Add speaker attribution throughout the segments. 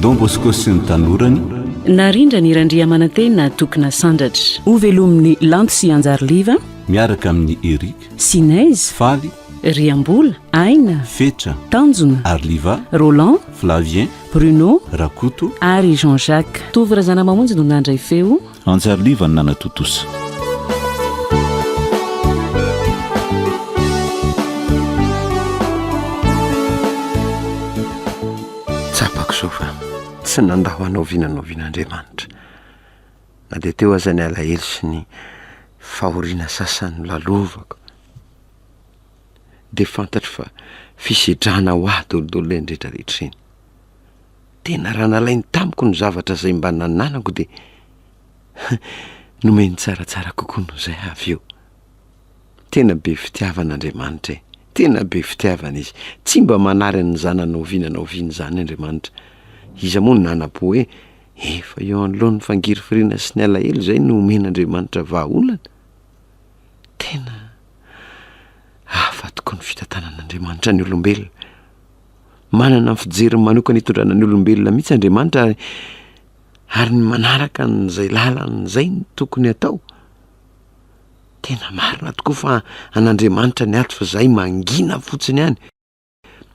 Speaker 1: Don Bosco sy ny tanorany. Narindra ny
Speaker 2: Randriamanantena Tokona Sandratra. Ho velomin'ny Lanto sy Anjary Liva. Miaraka amin'i
Speaker 1: Eric. Sinez. Faly. Riambola,
Speaker 2: Aina. Fetra. Tanjona.
Speaker 1: Arliva.
Speaker 2: Roland.
Speaker 1: Flavien. Bruno.
Speaker 2: Rakoto. Ary
Speaker 1: Jean Jacques.
Speaker 2: Tovo Razanamamonjy no nandray feo. Hanjary liva ny
Speaker 1: nanatontosa.
Speaker 3: Tsapako izao fa tsy nandao anao vina na vina Andriamanitra, na dia teo aza ny alahelo sy ny fahoriana sasany nolalovako, dia fantatro fa fisedrana ho ahy daholo daholo ireny rehetra rehetra ireny. Tena raha nalainy tamiko ny zavatra izay mba nananako dia nomeny tsaratsara kokoa noho izay avy eo. Tena be fitiavana Andriamanitra e! Tena be fitiavana Izy. Tsy mba manary an'ny zanany na oviana na oviana izany Andriamanitra. Iza moa no nanapo hoe efa eo anoloan'ny fangirifiriana sy ny alahelo izay no omen'Andriamanitra vahaolana? Tena hafa tokoa ny fitantanan'Andriamanitra ny olombelona. Manana ny fijeriny manokana hitondrana ny olombelona mihitsy Andriamanitra ary ary ny manaraka an'izay lalany izay no tokony atao. Tena marina tokoa fa an'Andriamanitra ny ato fa izahay mangina fotsiny ihany.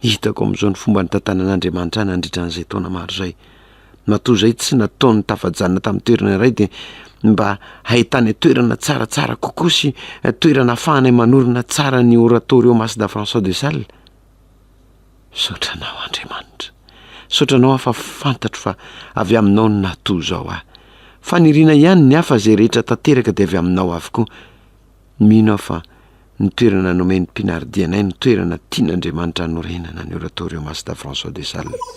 Speaker 3: Hitako amin'izao ny fomba nitantanan'Andriamanitra ahy nandritra an'izay taona maro izay. Matoa izay tsy nataony tafajanona tamin'ny toerana iray dia mba hahitany toerana tsaratsara kokoa sy toerana ahafahanay manorina tsara ny Oratorio Mas da François de Sales. Misaotra Anao, Andriamanitra. Misaotra Anao aho fa fantatro fa avy Aminao no nahatoa izao ahy. Faniriana ihany ny ahy fa izay rehetra tanteraka dia avy Aminao avokoa. Mino aho fa ny toerana nomen'ny mpianardianay no toerana tian'Andriamanitra hanorenana ny Oratorio Masta François de Sales.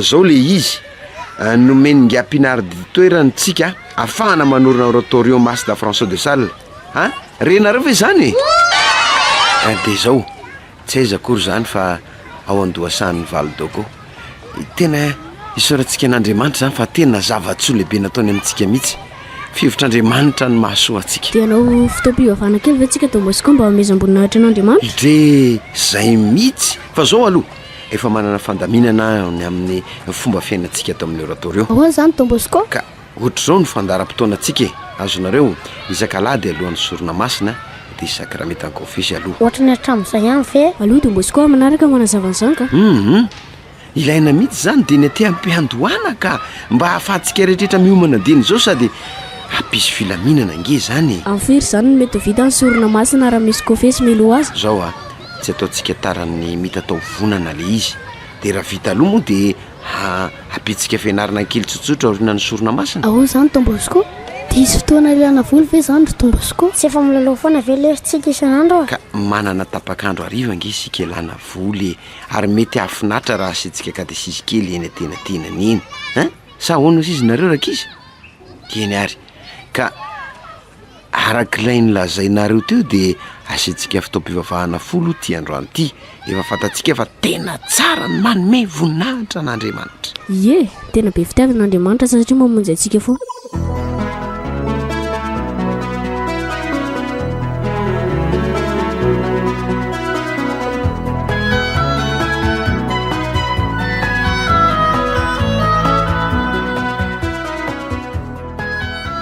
Speaker 3: Zao le izy, nomen'i Ngiah Pinard toerany tsika afahana manorina oratorium Mass da François de Sales a! renareo ve zany e? Eh de zao, tsy aiza akory zany fa ao an-dohasahan'ny Val d'Ogo. Tena isaorantsika an'Andriamanitra zany fa tena zava-tsoa lehibe nataony amintsika mihitsy. Fihevitr'Andriamanitra no mahasoa antsika. De hanao fotoam-pivavahana
Speaker 4: kely ve tsika Don Bosco mba hamehezam-boninahitra an'Andriamanitra? Dre
Speaker 3: zay mihitsy, fa zao aloha, Efa manana fandaminana aho ny amin'ny fomba fiainantsika ato amin'ny oratorio. Ahoana izany Don Bosco?
Speaker 4: Ka ohatr'izao no
Speaker 3: fandaharam-potoanantsika e! Azonareo? Isak'alahady alohan'ny sorona masina dia isakramenta an-kofehy aloha. Ohatra ny hatramin'izay ihany
Speaker 4: ve? Allo Don Bosco, manaraka no hanazava an'izany ka! Humm!
Speaker 3: Ilaina mihitsy izany dieny aty am-piandohana ka! Mba ahafahantsika rehetrrehetra miomana dieny izao sady hampisy filaminana ange izany e! Amin'ny firy izany no mety ho
Speaker 4: vita ny sorona masina raha misy kofehy sy milo azy? Izao a! Tsy
Speaker 3: ataontsika tara amin'ny mitatao vonana le izy de raha vita aloha moa de hapitsika fianarana kely tsotsotra aoriana ny sorona masina. Ahoana izany Don Bosco?
Speaker 4: Dia hisy fotoana ilana vola ve izany ry Don Bosco? Tsy efa milalao foana ve lery tsika isan'andro a? Ka manana
Speaker 3: tapak'andro hariva ange isika ilana vola e! Ary mety hahafinaritra raha asiantsika katesizy kely eny antenatenany eny ein! Sa ahoana hozy izy nareo rankizy? Eny ary! Ka. Araka ilay nolazainareo teo dia asiantsika fotoam-pivavahana folo ity androany ity. Efa fantatsika fa tena tsara ny manome voninahitra an'Andriamanitra. Ie, tena
Speaker 4: be fitiavana Andriamanitra satria mamonjy antsika foana.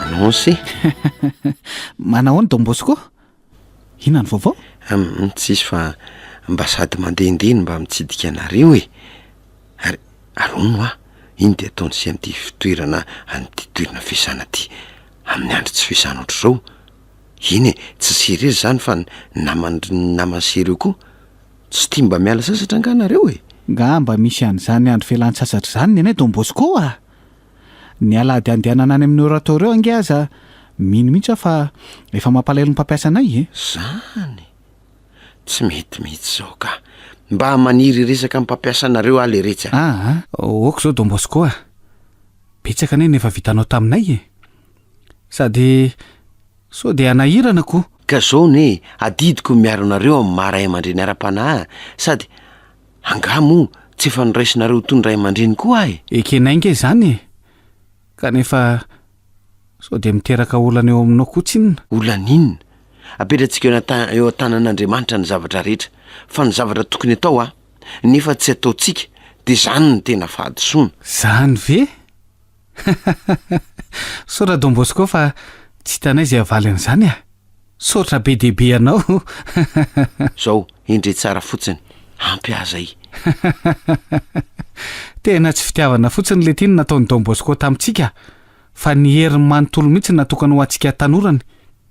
Speaker 3: Anonce
Speaker 5: Manao ny Don Bosco? Inona ny vaovao? Hum, tsisy fa
Speaker 3: mba sady mandehandeha no mba mitsidika anareo e Ary arono hoa iny dia ataony sy an'ity fitoerana an'ity toerana fiasana ity amin'ny andro tsy fiasana ohatr'izao Eny e, tsy sy irery izany fa ny naman'dry ny naman'i sy ireo koa Tsy tia mba miala sasatra angaha nareo e? Nga mba misy
Speaker 5: an'izany andro fialan-tsasatra izany ny anay Don Bosco a! Ny alahady andehanana any amin'ny oratorio ange aza mino mihitsy aho fa efa mampalahelo ny mpampiasa anay e! Zany!
Speaker 3: Tsy mety mihitsy izao ka! Mba maniry hiresaka amin'ny mpampiasa anareo aho leretsy a! Aa! ok izao
Speaker 5: Don Bosco a! Betsaka anie ny efa vitanao taminay e! Sady sao dia hanahirana koa! Ka izao anie e!
Speaker 3: Adidiko ny miaro anareo amin'ny maha ray aman-dreny ara-panahy sady Angaha moa tsy efa noraisinareo toy ny ray aman-dreny koa aho e? Ekenay ange izany e!
Speaker 5: Kanefa sao dia miteraka olana eo aminao koa tsinona? Olana inona?
Speaker 3: Apetratsika eo eo an-tanan'Andriamanitra ny zavatra rehetra, fa ny zavatra tokony atao a! nefa tsy ataontsika, dia izany no tena fahadisoana. Izany ve?
Speaker 5: Misaotra Don Bosco fa tsy hitanay izay havaly an'izany a! Misaotra be dia be anao!
Speaker 3: Zao, endrey tsara fotsiny, ampy ahy zay!
Speaker 5: Tena tsy fitiavana fotsiny lety iny nataon'i Don Bosco tamintsika fa ny heriny manontolo mihitsy natokana ho antsika tanorany!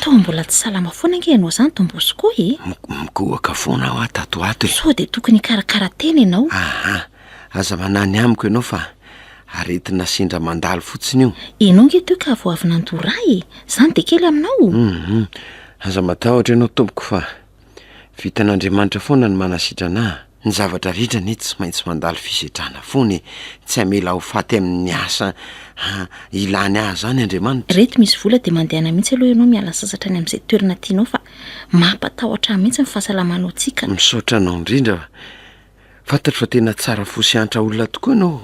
Speaker 6: Toa mbola tsy salama foana ange ianao izany Dombosy koa e! Mikohaka foana
Speaker 3: aho aho tato ho ato e! Sao dia tokony hikarakara
Speaker 6: tena ianao? Aha! Aza
Speaker 3: manany amiko ianao fa aretina sendra mandalo fotsiny io! Ianao ange teo ka vao
Speaker 6: avy nandoa rà e! Izany dia kely aminao? Hum! Aza
Speaker 3: matahotra ianao tompoko fa vitan'Andriamanitra foana ny manasitrana ahy! Ny zavatra rehetra anie tsy maintsy mandalo fisedrana foana e! Tsy hamela ho faty amin'ny asa ilany ahy izany Andriamanitra. Reto misy vola dia mandehana
Speaker 6: mihitsy aloha ianao miala sasatra any amin'izay toerana tianao fa mampatahotra ahy mihitsy ny fahasalamanao tsika. Misaotra anao indrindra
Speaker 3: Fantatro fa tena tsara fo sy hantra olona tokoa ianao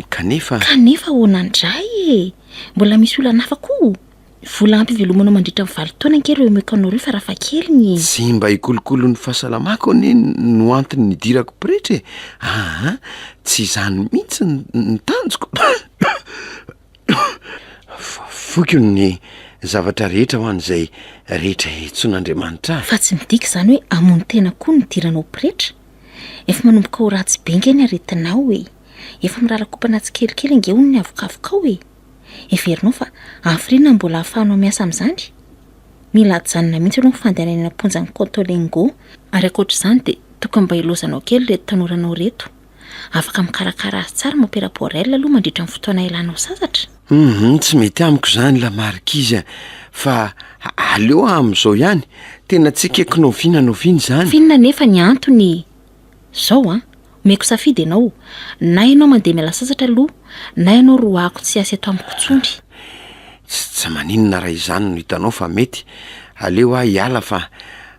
Speaker 3: kanefa. Kanefa ahoana
Speaker 6: indray e! Mbola misy olana hafa koa? Vola ampy hivelomanao mandritra ny valo taona ange ireo Mekanao ireo farafakely ny. Tsy mba hikolokolo
Speaker 3: ny fahasalamako anie no antony nidirako pretra e! aa! Tsy izany mihitsy ny tanjoko! Voiko ny zavatra rehetra ho an'izay rehetra hihitsoan'Andriamanitra ahy. Fa tsy midika izany
Speaker 6: hoe hamono tena koa no hidiranao pretra? Efa manomboka ho ratsy be ange ny aretinao e! Efa mirarakopana tsikelikely ange hono ny havokavokao e! Heverinao fa hafiriana ny mbola ahafahanao miasa amin'izany? Mila ajanona mihitsy aloha ny fandehanany eny am-ponjan'i Cotolengo, ary ankoatra izany dia tokony mba hilaozanao kely ireto tanoranao ireto. Afaka mikarakara azy tsara mon père Borel aloha mandritra ny fotoana hialanao sasatra. Hum, tsy mety
Speaker 3: amiko izany la marquise a! Fa aleo amin'izao ihany, tena tsy ekeko na oviana na oviana izany. F'inona anefa ny
Speaker 6: antony? Zao an! Omeko safidy ianao, na ianao mandeha miala sasatra aloha, na ianao roahako tsy hiasa eto amiko intsony. Tsy
Speaker 3: tsy maninona raha izany no hitanao fa mety, aleo aho hiala fa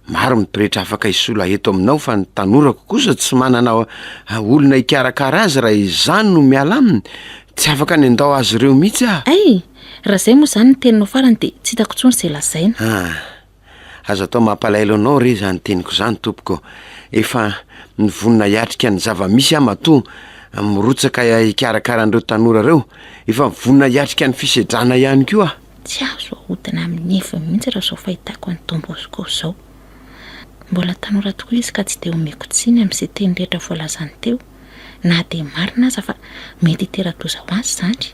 Speaker 3: maro ny pretra afaka hisolo eto aminao fa ny tanorako kosa tsy manana olona hikarakara azy raha izaho no miala aminy, tsy afaka ny handao azy ireo mihitsy aho. Ay! Raha izay
Speaker 6: moa izany ny teninao farany dia tsy hitako intsony izay lazaina. Ah! Aza
Speaker 3: atao mampalahelo anao re izany teniko izany tompoko. Efa nivonona hiatrika ny zava-misy aho matoa mirotsaka hikarakara an'ireo tanora ireo. Efa mivonona hiatrika ny fisedrana ihany koa aho. Tsy azo ahodina
Speaker 6: amin'ny heviny mihitsy raha izao fahitako an'i Don Bosco izao. Mbola tanora tokoa izy ka tsy dia omeko tsiny amin'ny siteny rehetra voalazany teo, na dia marina aza fa mety hitera-doza ho azy izany.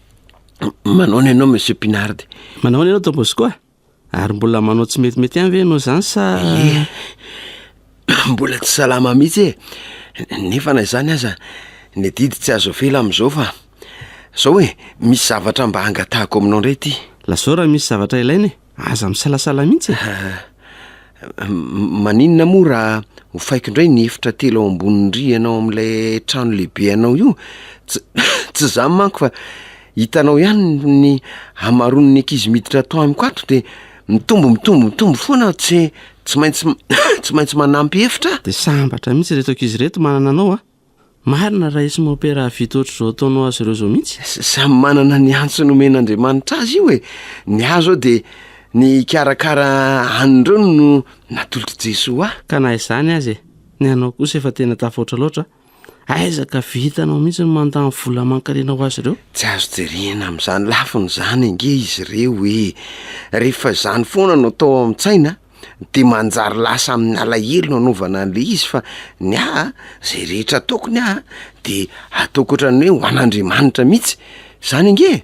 Speaker 3: Manaona ianao Monsieur Pinard. Manaona ianao Don Bosco
Speaker 7: ah? Ary mbola manao tsy metimety ihany ve ianao izany sa... Ie,
Speaker 3: mbola tsy salama mihitsy e. Nefa na izany aza, ny adidy tsy azo avela amin'izao fa... Izao e, misy zavatra mba hangatahako aminao indray ity. Lazao raha misy zavatra
Speaker 7: ilaina e. Aza misalasala mihitsy e!
Speaker 3: Maninona moa raha hofaiko indray ny efitra telo ao ambonin'ny rihana ao amin'ilay trano lehibe anao io? Tsy tsy izany manko fa hitanao ihany ny hamaroan'ny ankizy miditra ato amiko ato dia mitombo mitombo mitombo foana tsy tsy maintsy tsy maintsy manampy efitra. Dia sambatra mihitsy
Speaker 7: ireto ankizy ireto manana anao a! Marina raha isy mompera hahavita ohatr'izao ataonao azy ireo izao mihitsy. Samy manana ny
Speaker 3: antso nomen'Andriamanitra azy io e! Ny ahy izao dia ny hikarakara an'ireo no natolotr'i Jesoa ahy. Ka na izany aza e!
Speaker 7: Ny anao kosa efa tena tafahoatra loatra a! Aiza ka vitanao mihitsy ny mandany vola aman-karena ho azy ireo? Tsy azo jerena
Speaker 3: amin'izany lafiny izany ange izy ireo e! Rehefa izany foana no atao ao an-tsaina de manjary lasa amin'ny alahelo no anaovana an'le izy fa ny ahy a, zay rehetra ataoko ny ahy de ataoko ohatran'ny hoe ho an'Andriamanitra mihitsy, zany ange e,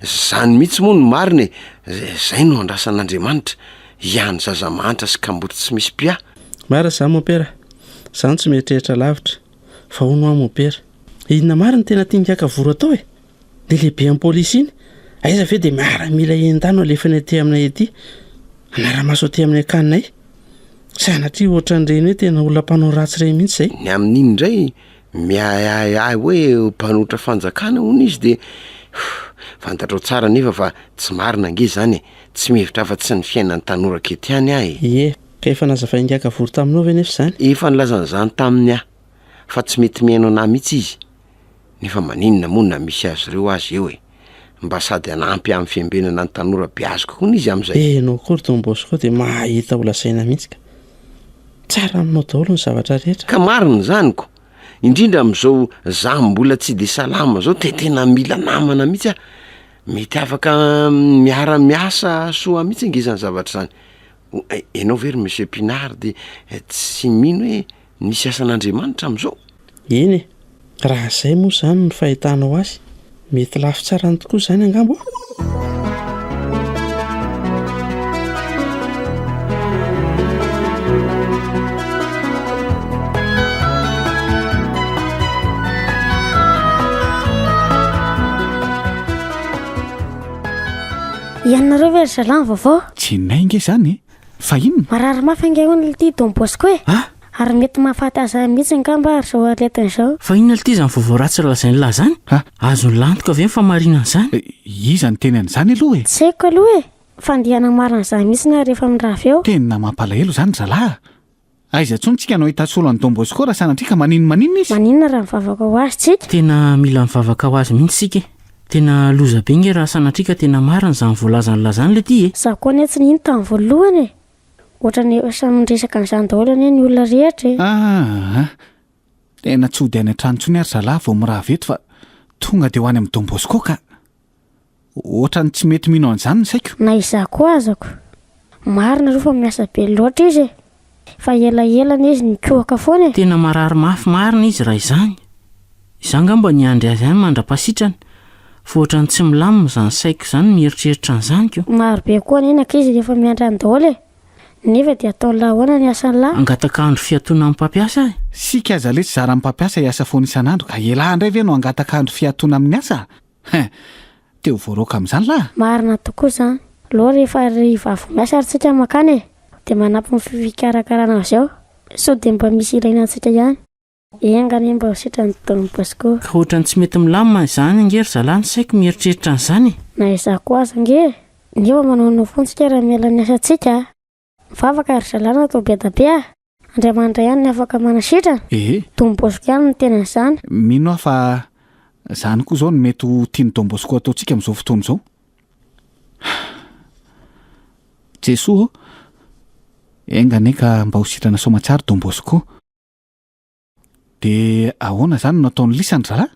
Speaker 3: zany mihitsy moa no marina e, z- zay no andrasan'Andriamanitra, hiahan'ny zaza mahantra sy kamboty tsy misy mpiahy. Marina zany mopera,
Speaker 7: za no tsy mieritreritra lavitra, fa hono hoa mopera, inona marina no tena tian'i Kakavory atao e? Dia lehibe an'i polisy iny, aiza ve dia miaramila enta no alefany aty aminay aty, hanara-maso aty amin'ny akaninay. Sanatria ohatran'ireny hoe tena olona mpanao ratsy ireny mihitsy izay. Ny amin'iny indray
Speaker 3: miahiahy ahy hoe mpanotra fanjakana hono izy dia fantatrao tsara anefa fa tsy marina ange izany e! Tsy mihevitra afa-tsy ny fiainan'ny tanora aketo ihany aho e! Ie, ka
Speaker 7: efa nazavain'i Gagavory taminao ve anefa izany? Efa nilazany izany
Speaker 3: taminy aho fa tsy mety mihaino anah mihitsy izy. nefa maninona moa na misy azy ireo aza eo e! Mba sady hanampy amin'ny fiambenana ny tanora beaziko hono izy amin'izay. Eh ianao koa ry Don Bosco
Speaker 7: dia mahahita ho lazaina mihitsy ka! Tsara aminao daholo ny zavatra rehetra. Ka marina izany ko!
Speaker 3: Indrindra amin'izao za mbola tsy dia salama izao dia tena mila namana mihitsy aho. Mety afaka miara miasa soa mihitsy ange izany zavatra izany. Ianao ve ry Monsieur Pinard dia tsy mino hoe. Nisy asan'Andriamanitra amin'izao? Eny
Speaker 7: e! Raha izay moa izany no fahitanao azy, mety lafo tsarany tokoa izany angamba ô?
Speaker 4: Ianareo ve ry zalahy ny vaovao? Tsy may nge izany
Speaker 5: e! Fa inona? Marary mafy ange hono
Speaker 4: ity Don Bosco e! Ah! Ary mety mahafaty azy mihitsy angamba ary izao aretiny izao. Fa inona ity izany vaovao
Speaker 2: ratsy lazain'i lahy izany? Ah! Azon'i lahy antoka ve ny fahamarinana izany? Eh, iza niteny
Speaker 5: an'izany aloha e? Tsy haiko aloha e!
Speaker 4: Fa andeha hanamaro an'izany mihitsy nareo efa mirava eo. Tena mampalahelo izany
Speaker 5: zalahy a! Aiza intsony tsika no ahita solo an'i Don Bosco raha sanatria ka manin maninona izy? Maninona raha mivavaka ho
Speaker 4: azy tsika? Tena mila mivavaka
Speaker 2: ho azy mihitsy tsika e! Tena loza be nge raha sanatria ka tena marina izany voalazan'i la izany le ty e! Za koa anie tsy nino tamin'ny
Speaker 4: voalohany e! Ohatrany efa samy niresaka an'izany daholo anie ny olona rehetra e! Aa!
Speaker 5: Tena tsy hody any an-trano intsony ary zalah vao mirava eto fa tonga dia ho any amin'i Don Bosco ka! Ohatran'ny tsy mety mino an'izany ny saiko. Na izaho koa azako.
Speaker 4: Marina aloha fa miasa be loatra izy e! Fa elaela anie izy nikohaka foana e! Tena marary mafy
Speaker 2: marina izy raha izany. Izaho angamba niandry azy any mandra-pasitrana fa ohatran'ny tsy milamina izany saiko izany mieritreritra an'izany ko! Maro be koa anie ny ankizy
Speaker 4: rehefa miandry any daholo e! Nefa dia ataon'lah ahoana ny asan'lah? Hangataka andro fiatoana
Speaker 2: amin'ny mpampiasa aho e! Isika aza lesy
Speaker 5: zaran'ny mpampiasa hiasa foana isan'andro ka elah indray ve no hangataka andro fiatoana amin'ny asa? Hein! Te ho voaraoka amin'izany lah! Marina tokoa izany.
Speaker 4: Alou rehefa hariva avy miasa ary tsika mankany e! Dia manampy ny fikarakarana avy eo. Sao dia mba misy ilaina antsika ihany. Enga anie mba ho sitrany Don Bosco. Ka ohatrany tsy mety
Speaker 2: milamina izany ange ry zalahy ny saiko mieritreritra an'izany e! Na izaho koa aza
Speaker 4: ange e! Nefa manaonao foana tsika raha miala ny asantsika a! Mivavaka ry zalahy natao bedabe a! Andriamanitra ihany ny afaka manasitrana. Ehe. Don Bosco ihany no tena izany. Mino aho fa
Speaker 5: izany koa izao no mety ho tian'i Don Bosco hataontsika amin'izao fotoana izao. Jesoa ô! Enga anie ka mba ho sitrana soamatsiaro Don Bosco. De ahoana zany no ataon'i Lisa ny zalahy?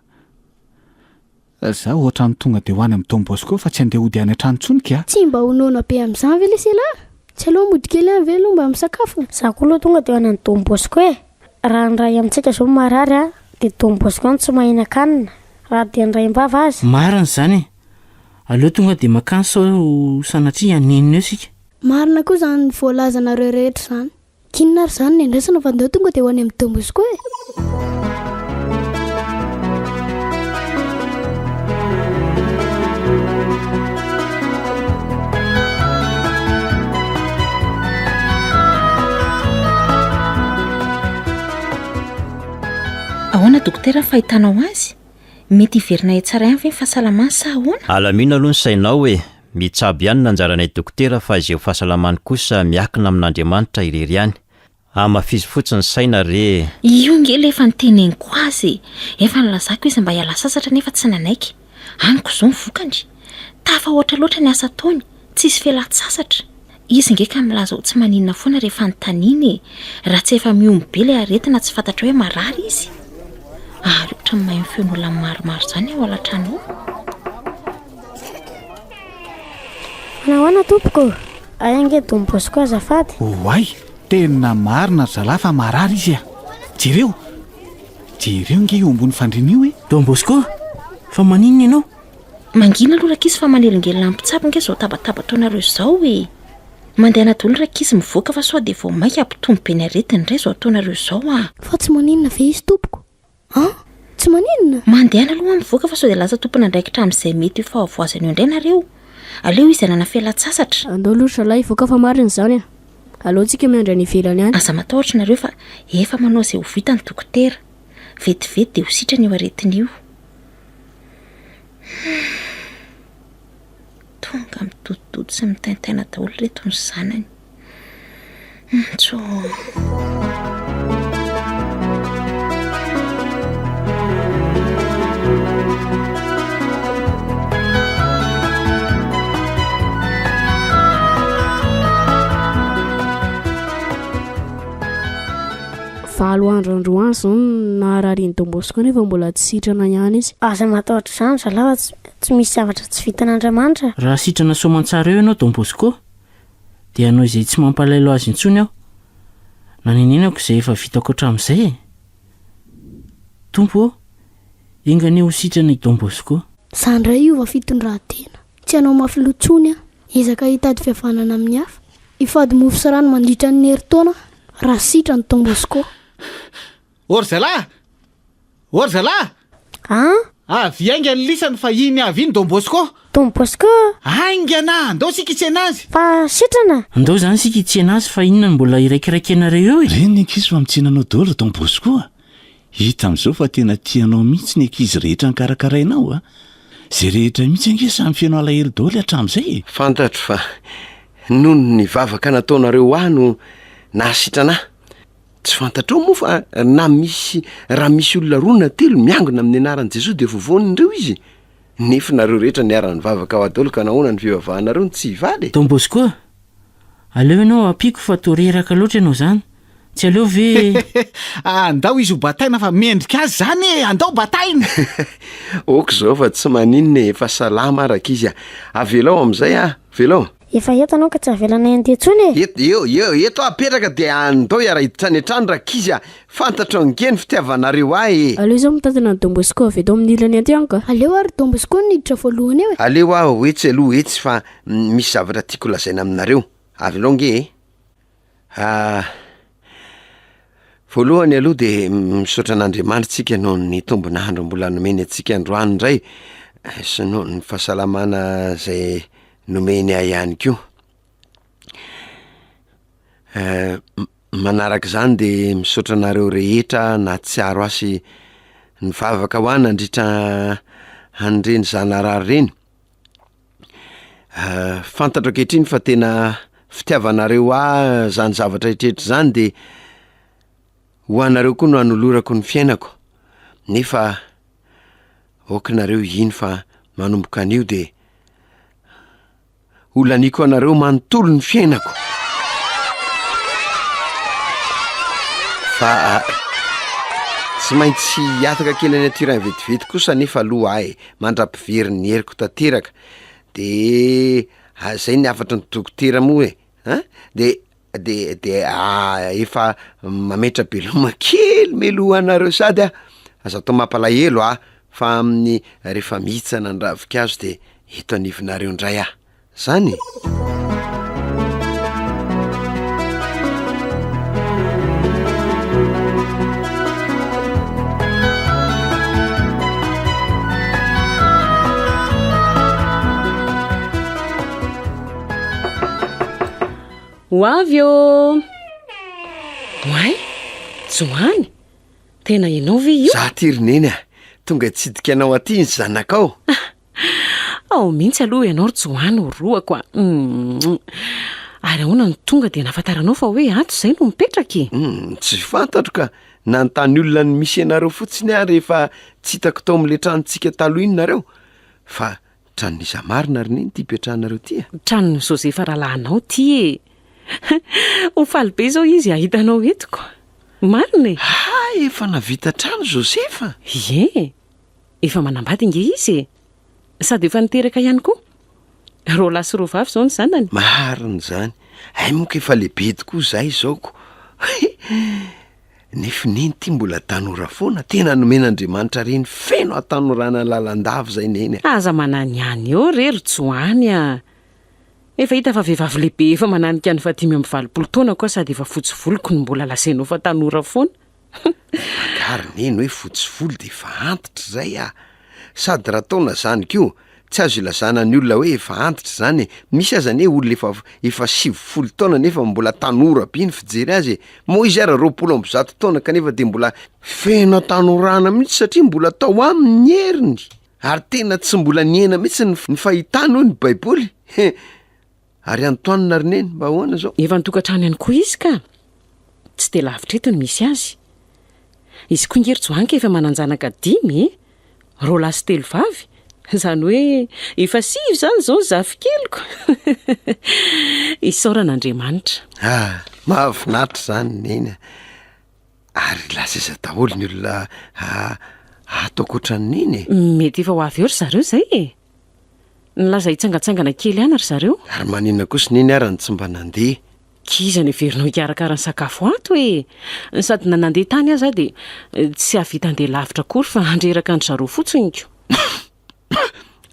Speaker 5: Zaho ohatrany tonga de ho any am Don Bosco fa tsy andeha hody any an-trano intsony kya! Tsy mba ho noana be
Speaker 4: amin'izany ve lesy ialahy? Tsy aleo mody kely any ve aloha mba misakafo? Za koa aloha tonga de ho any an Don Bosco e! Raha ny ray amintsika zao marary a! de Don Bosco no tsy mahinan-kanina raha dia ny raim-bava aza! Marina izany e!
Speaker 2: Aleo tonga de makany sao sanatria hanenina eo isika! Marina koa izany
Speaker 4: voalazanareo rehetra izany! K'inona ary izany ny andrasana fa ndao tonga dia ho any amin'ny Don Bosco e!
Speaker 6: Ahoana dokotera ny fahitanao azy? Mety hiverina tsara ihany ve ny fahasalamany sa ahoana? Alamino aloha ny sainao
Speaker 8: e! Mitsabo ihany ny anjaranay dokotera fa izay ho fahasalamany kosa miakina amin'Andriamanitra irery ihany. Hamafizo fotsiny saina re e! Io nge ilay efa
Speaker 6: niteneniko azy e! Efa nilazako izy mba hiala sasatra nefa tsy nanaiky. Amiko izao ny vokany. Tafahoatra loatra ny asa ataony, tsisy felan-tsasatra. Izy nge ka milaza ho tsy maninona foana rehefa anontaniana e! Raha tsy efa mihombo be ilay aretina tsy fantatrao hoe marary izy? Ary ohatran'ny maheno feon'olona maromaro izany ao alatrano ao.
Speaker 4: Nahoana tompoko? Hay ange Don Bosco azafady. Oay!
Speaker 5: Tena marina ry zalahy fa marary izy a! Jereo! Jereo nge io ambony fandriana io e! Don Bosco,
Speaker 2: fa maninona ianao? Mangina aloha
Speaker 6: rankizy fa manelingelina ny mpitsabo ange izao tabataba ataonareo izao e! Mandehana daholo ny rankizy mivoaka fa sao dia vao mainka hampitombo be ny aretiny indray izao ataonareo izao an! Fa tsy maninona ve
Speaker 4: izy tompoko an? Tsy maninona? Mandehana aloha mivoaka
Speaker 6: fa sao dia lasa tompon'andraikitra amin'izay mety ho fahavoazana eo indray nareo! Aleo izy hanana fialan-tsasatra! Andao aloha ry zalahy hivoaka
Speaker 4: fa marina izany an! Aleontsika miandry any ivelany any! Aza matahotra nareo fa
Speaker 6: efa manao izay ho vitan'ny dokotera! Vetivety dia ho sitrana io aretina io! Tonga mitotototo sy mitaintaina daholo ireto ny zanany.
Speaker 4: Valo andro androany izao no naharary an'i Don Bosco nefa mbola tsy sitrana ihany izy. Aza matahotra izany zalahy fa tsy misy zavatra tsy vitan'Andriamanitra. Raha sitrana
Speaker 2: soamantsara eo ianao Don Bosco dia hanao izay tsy mampalaelo azy intsony aho. Nanenenako izay efa vitako hatramin'izay e! Tompo ô! Enga anie ho sitrana i Don Bosco. Za ndray hiova
Speaker 4: fitondratena. Tsy hanao mafy loha intsony aho. Hiezaka hitady fihavanana amin'ny hafa. Hifady mofo sy rano mandritra ny herintaona raha sitra ny Don Bosco. Or
Speaker 5: zalah! Or zalah! An! Avy hainga ny lisany fa iny avy iny Don Bosco. Don Bosco!
Speaker 4: Haingana!
Speaker 5: Ndao isika hitsena azy. Fa sitrana!
Speaker 4: Ndao izany isika hitsena
Speaker 2: azy fa inona no mbola iraikiraikenareo eo e? Reny ny ankizy fa mitsiana
Speaker 1: anao daholo Don Bosco a! Hita amin'izao fa tena tia anao mihitsy ny ankizy rehetra nokarakarainao a! Izay rehetra mihitsy ange samy feno alahelo daholo hatramin'izay e! Fantatro fa
Speaker 3: noho ny vavaka nataonareo ho ahy no nahasitrana ahy. Tsy fantatrao moa fa na misy raha misy olona roa na telo miangona amin'ny anaran'i Jesoa dia voavonin'ireo izy? Nefo nareo rehetra niara-nivavaka ho ahy daholo ka nahoana ny fivavahanareo no tsy hivaly e? Don Bosco,
Speaker 2: Aleo ianao ampiako fa toa reraka loatra ianao izany. Tsy aleo ve. Andao
Speaker 5: izy ho bataina fa mendrika azy izany e! Andao bataina! Ok
Speaker 3: izao fa tsy maninona e, efa salama ary ankizy a! Avelao amin'izay a! Avelao! Efa eto ianao ka tsy
Speaker 4: avelanay handeha intsony e! Et, eo, eo, eto aho apetraka
Speaker 3: dia andao hiara-hiditra any an-trano rankizy a! Fantatrao ange ny fitiavanareo ahy e! Aleo izao mitantana ny Don
Speaker 4: Bosco avy eto amin'ny ilany aty an ka! Aleo ary Don Bosco no hiditra voalohany eo e! Aleo aho etsy aloha
Speaker 3: etsy fa Misy zavatra tiako lazaina aminareo, avelao nge e! Ah, voalohany aloha de misaotra an'Andriamanitra tsika noho ny tombon'andro mbola nomeny antsika androany indray, sy noho ny fahasalamana zay nomeny ahy ihany koa. Eh, manaraka izany de misaotra anareo rehetra nahatsiaro ahy sy nivavaka ho ahy nandritra an'ireny zanarary ireny, Fantatro ankehitriny fa tena fitiavanareo ahy zany zavatra rehetra zany de ho anareo koa no anolorako ny fiainako, nefa ok nareo hino fa manomboka anio de ho laniako anareo manontolo ny fiainako fa tsy maintsy hihataka kely any aty raha vetivety kosa nefa aloha ay! mandra-pivery ny heriko tanteraka de ah, zay ny hafatry ny dokotera moa e an, de de de ah, efa mametra-beloma kely meloha anareo sady ah, aza atao mampalahelo ah, fa amin'ny rehefa mihitsana ny ravinkazo de eto anivonareo indray ah. zany
Speaker 9: e! Ho avy ô! Oay! Johany! Tena ianao ve io?
Speaker 3: Za ty ry
Speaker 9: Neny a!
Speaker 3: Tonga hitsidika anao aty ny zanakao!
Speaker 9: Ao mihitsy aloha ianao ry Joany o roako a! Ary ahoana no tonga dia nahafantaranao fa hoe ato izay no mipetraka e? Hmm, tsy fantatro
Speaker 3: ka! Nanontany olona ny misy anareo fotsiny aho rehefa tsy hitako tao amin'ilay tranontsika taloha iny nareo. Fa tranon'iza marina ry Neny ity ipetrahanareo ity a? Tranon'i Josefa
Speaker 9: rahalahinao ity e! Ho faly be izao izy hahita anao eto ka! Marina e! Ah, efa
Speaker 3: navita trano Josefa? Ie!
Speaker 9: Efa manambady ange izy e! Sady efa niteraka ihany koa. Roa lahy sy roa vavy izao ny zanany. Marina izany.
Speaker 3: Hay moa ka efa lehibe tokoa izahay izao ko. Nefo neny ity mbola tanora foana. Tena nomen'Andriamanitra reny feno hatanorana lalandava izay neny a! Aza mananihany
Speaker 9: eo re ry Joany a! Efa hita fa vehivavy lehibe efa mananika ny fahadimy amby valopolo taona koa sady efa fotsy volo ko no mbola lazainao fa tanora foana. Magari
Speaker 3: neny hoe fotsy volo dia efa antitra izay ah! Sady raha taona izany koa, tsy azo ilazana ny olona hoe efa antitra izany e! Misy aza anie olona efa efa sivifolo taona nefa mbola tanora be ny fijery azy e! Moa izy ary roapolo amby zato taona kanefa dia mbola feno hatanorana mihitsy satria mbola tao aminy ny heriny ary tena tsy mbola nihena mihitsy ny fahitany hoy ny baiboly he! Ary antoanina ry neny mba ahoana izao? Efa an-tokantrano ihany koa
Speaker 9: izy ka! Tsy dia lavitra eto no misy azy. Izy koa nge ry Joanka efa manan-janaka dimy e! Roa lahy sy telo vavy! Izany hoe efa sivy izany izao ny zafikeliko! Isaorana Andriamanitra! Ah! Mahafinaritra
Speaker 3: izany neny a! Ary lasa aiza daholo ny olona ato ankoatra ny neny e? Mety efa ho avy
Speaker 9: eo ry zareo izay e! Nilaza hitsangantsangana kely any ry zareo. Ary maninona kosa Neny
Speaker 3: ara no tsy mba nandeha? K'iza no heverinao
Speaker 9: hikarakara ny sakafo ato e? Sady na nandeha tany aza aho dia tsy hahavita handeha lavitra akory fa handreraka an-dry zareo fotsiny ko.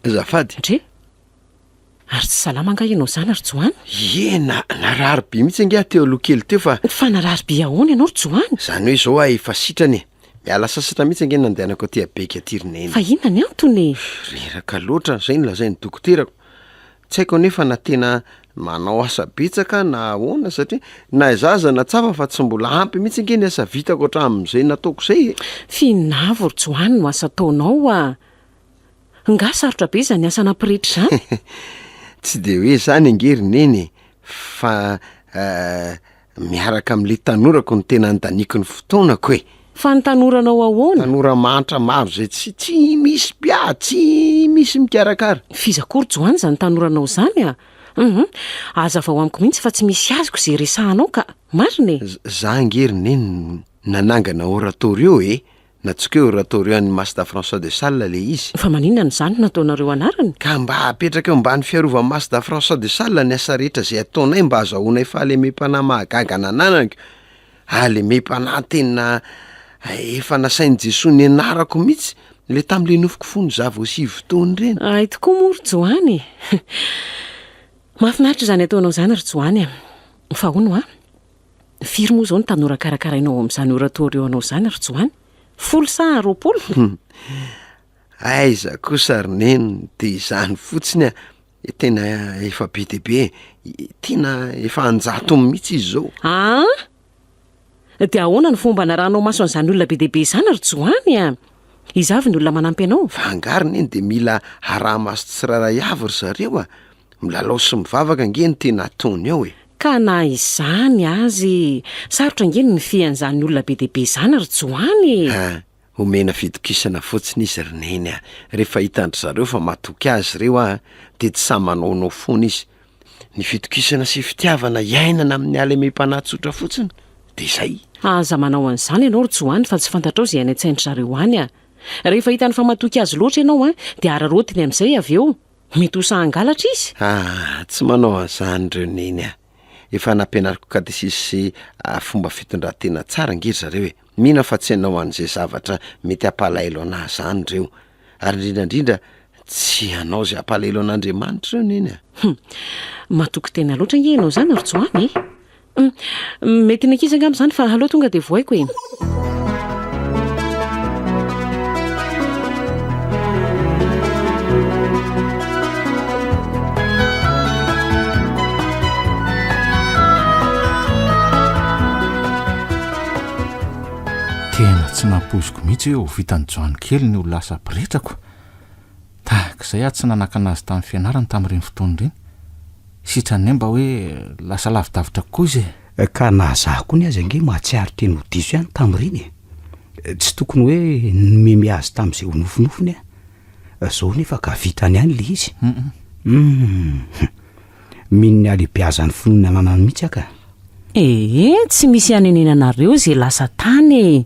Speaker 9: Azafady.
Speaker 3: Ndry.
Speaker 9: Ary tsy salama angaha ianao izany ry Johany? Ie, na-
Speaker 3: narary be mihitsy ange aho teo aloha kely teo fa. Fa narary be ahoana
Speaker 9: ianao ry Johany? Izany hoe izao aho efa
Speaker 3: sitrana e. Miala sasatra mihitsy ange ny nandehanako aty Abeka aty ry Neny. Fa inona ny antony e?
Speaker 9: Reraka loatra,
Speaker 3: izay no lazain'ny dokoterako. Tsy haiko anefa na tena manao asa betsaka na ahoana satria na izaho aza nahatsapa fa tsy mbola ampy mihitsy ange ny asa vitako hatramin'izay nataoko izay e. F'inona avy
Speaker 9: ry Joany no asa ataonao oa? Nga sarotra be izany asa nampirehitra izany? Tsy
Speaker 3: dia hoe izany ange ry Neny e, fa eh, Miaraka amin'ilay tanorako no tena andaniako ny fotoanako e! Fa ny tanoranao
Speaker 9: ahoana? Tanora mahantra maro
Speaker 3: izay tsy, tsy misy mpiady, tsy misy mikarakara. F'iza akory Joany izany
Speaker 9: tanoranao izany a! Hum, hazavao amiko mihitsy fa tsy misy azoko izay resahanao ka! Marina e! Za ange ry Neny
Speaker 3: no nanangana oratorio e! Natsoka eo Ratorian Masta François de Sales le izy. Fa maninona no zany no
Speaker 9: nataonareo anarany? Ka mba apetraka eo
Speaker 3: ambany fiarovan Masta François de Sales ny asa rehetra izay ataonay mba azahoanay fahalemem-panahy mahagaga nananako, hahalemem-panahy tena efa nasain'i Jesoa nianarako mihitsy le tamle nofiko fony za vao sivy taona ireny. Ahy tokoa moa ry
Speaker 9: Joany e! Mahafinaritra izany ataonao izany ry Joany a! Fa hono a! Firy moa izao ny tanora karakarainao ao amin'izany oratorio anao izany ry Joany? Folo sa roapolo? Hum,
Speaker 3: aiza kosa ry Neny, dia izany fotsiny a! tena efa be dia be, tena efa an-jatony mihitsy izy izao. Aa!
Speaker 9: dia ahoana ny fomba anarahanao maso an'izany olona be dia be izany ry Joany a? Iza avy ny olona manampy anao? Fa angaha ry Neny dia
Speaker 3: mila araha-maso tsirairay avy ry zareo a? Milalao sy mivavaka ange no tena ataony ao e! Ka na
Speaker 9: izany azy, sarotra ange ny mifehy an'izany olona be dia be izany ry Joany e! Ha, omena
Speaker 3: fitokisana fotsiny izy ry Neny a! Rehefa hitan-dry zareo fa matoky azy ireo aho dia tsy sahy manaonao foana izy. Ny fitokisana sy fitiavana iainana amin'ny halemem-panahy tsotra fotsiny dia izay. Aza manao an'izany
Speaker 9: ianao ry Joany fa tsy fantatrao izay any an-tsain-dry zareo any a! Rehefa hitany fa matoky azy loatra ianao dia hararaotiny amin'izay avy eo Mety ho sahy hangalatra izy. Ah, tsy manao
Speaker 3: an'izany ireo neny ah. Efa nampianariko katesisy sy ah, fomba fitondran-tena tsara ange ry zareo e. Mino aho fa tsy hanao an'izay zavatra mety hampalahelo anà izany ireo. Ary indrindra indrindra, tsy hanao izay hampalahelo an'Andriamanitra ireo neny ah. Hum, matoky
Speaker 9: tena loatra ange ianao izany ry Joany e. Mety ny ankizy angamba izany fa aleo tonga dia vohaiko
Speaker 5: e. tsy nampoiziko mihitsy hoe ho vitan'i joany kely ny ho lasa pretrako Tahaka izay aho tsy nanakana azy tamin'ny fianarany tamin'ireny fotoana ireny. Sitrany ny ahy mba hoe lasa lavidavitra kokoa izy e! Ka na izaho
Speaker 10: koa ny azy ange mahatsiaro teny ho diso ihany tamin'ireny e! Tsy tokony hoe nimeme azy tamin'izay ho nofinofiny aho. Izao anefa ka vitany ihany ilay izy. Hum! Mino ny halebiazan'ny finoana ananany mihitsy aho ka. Ee,
Speaker 9: tsy misy hanenenanareo izay lasa tany e!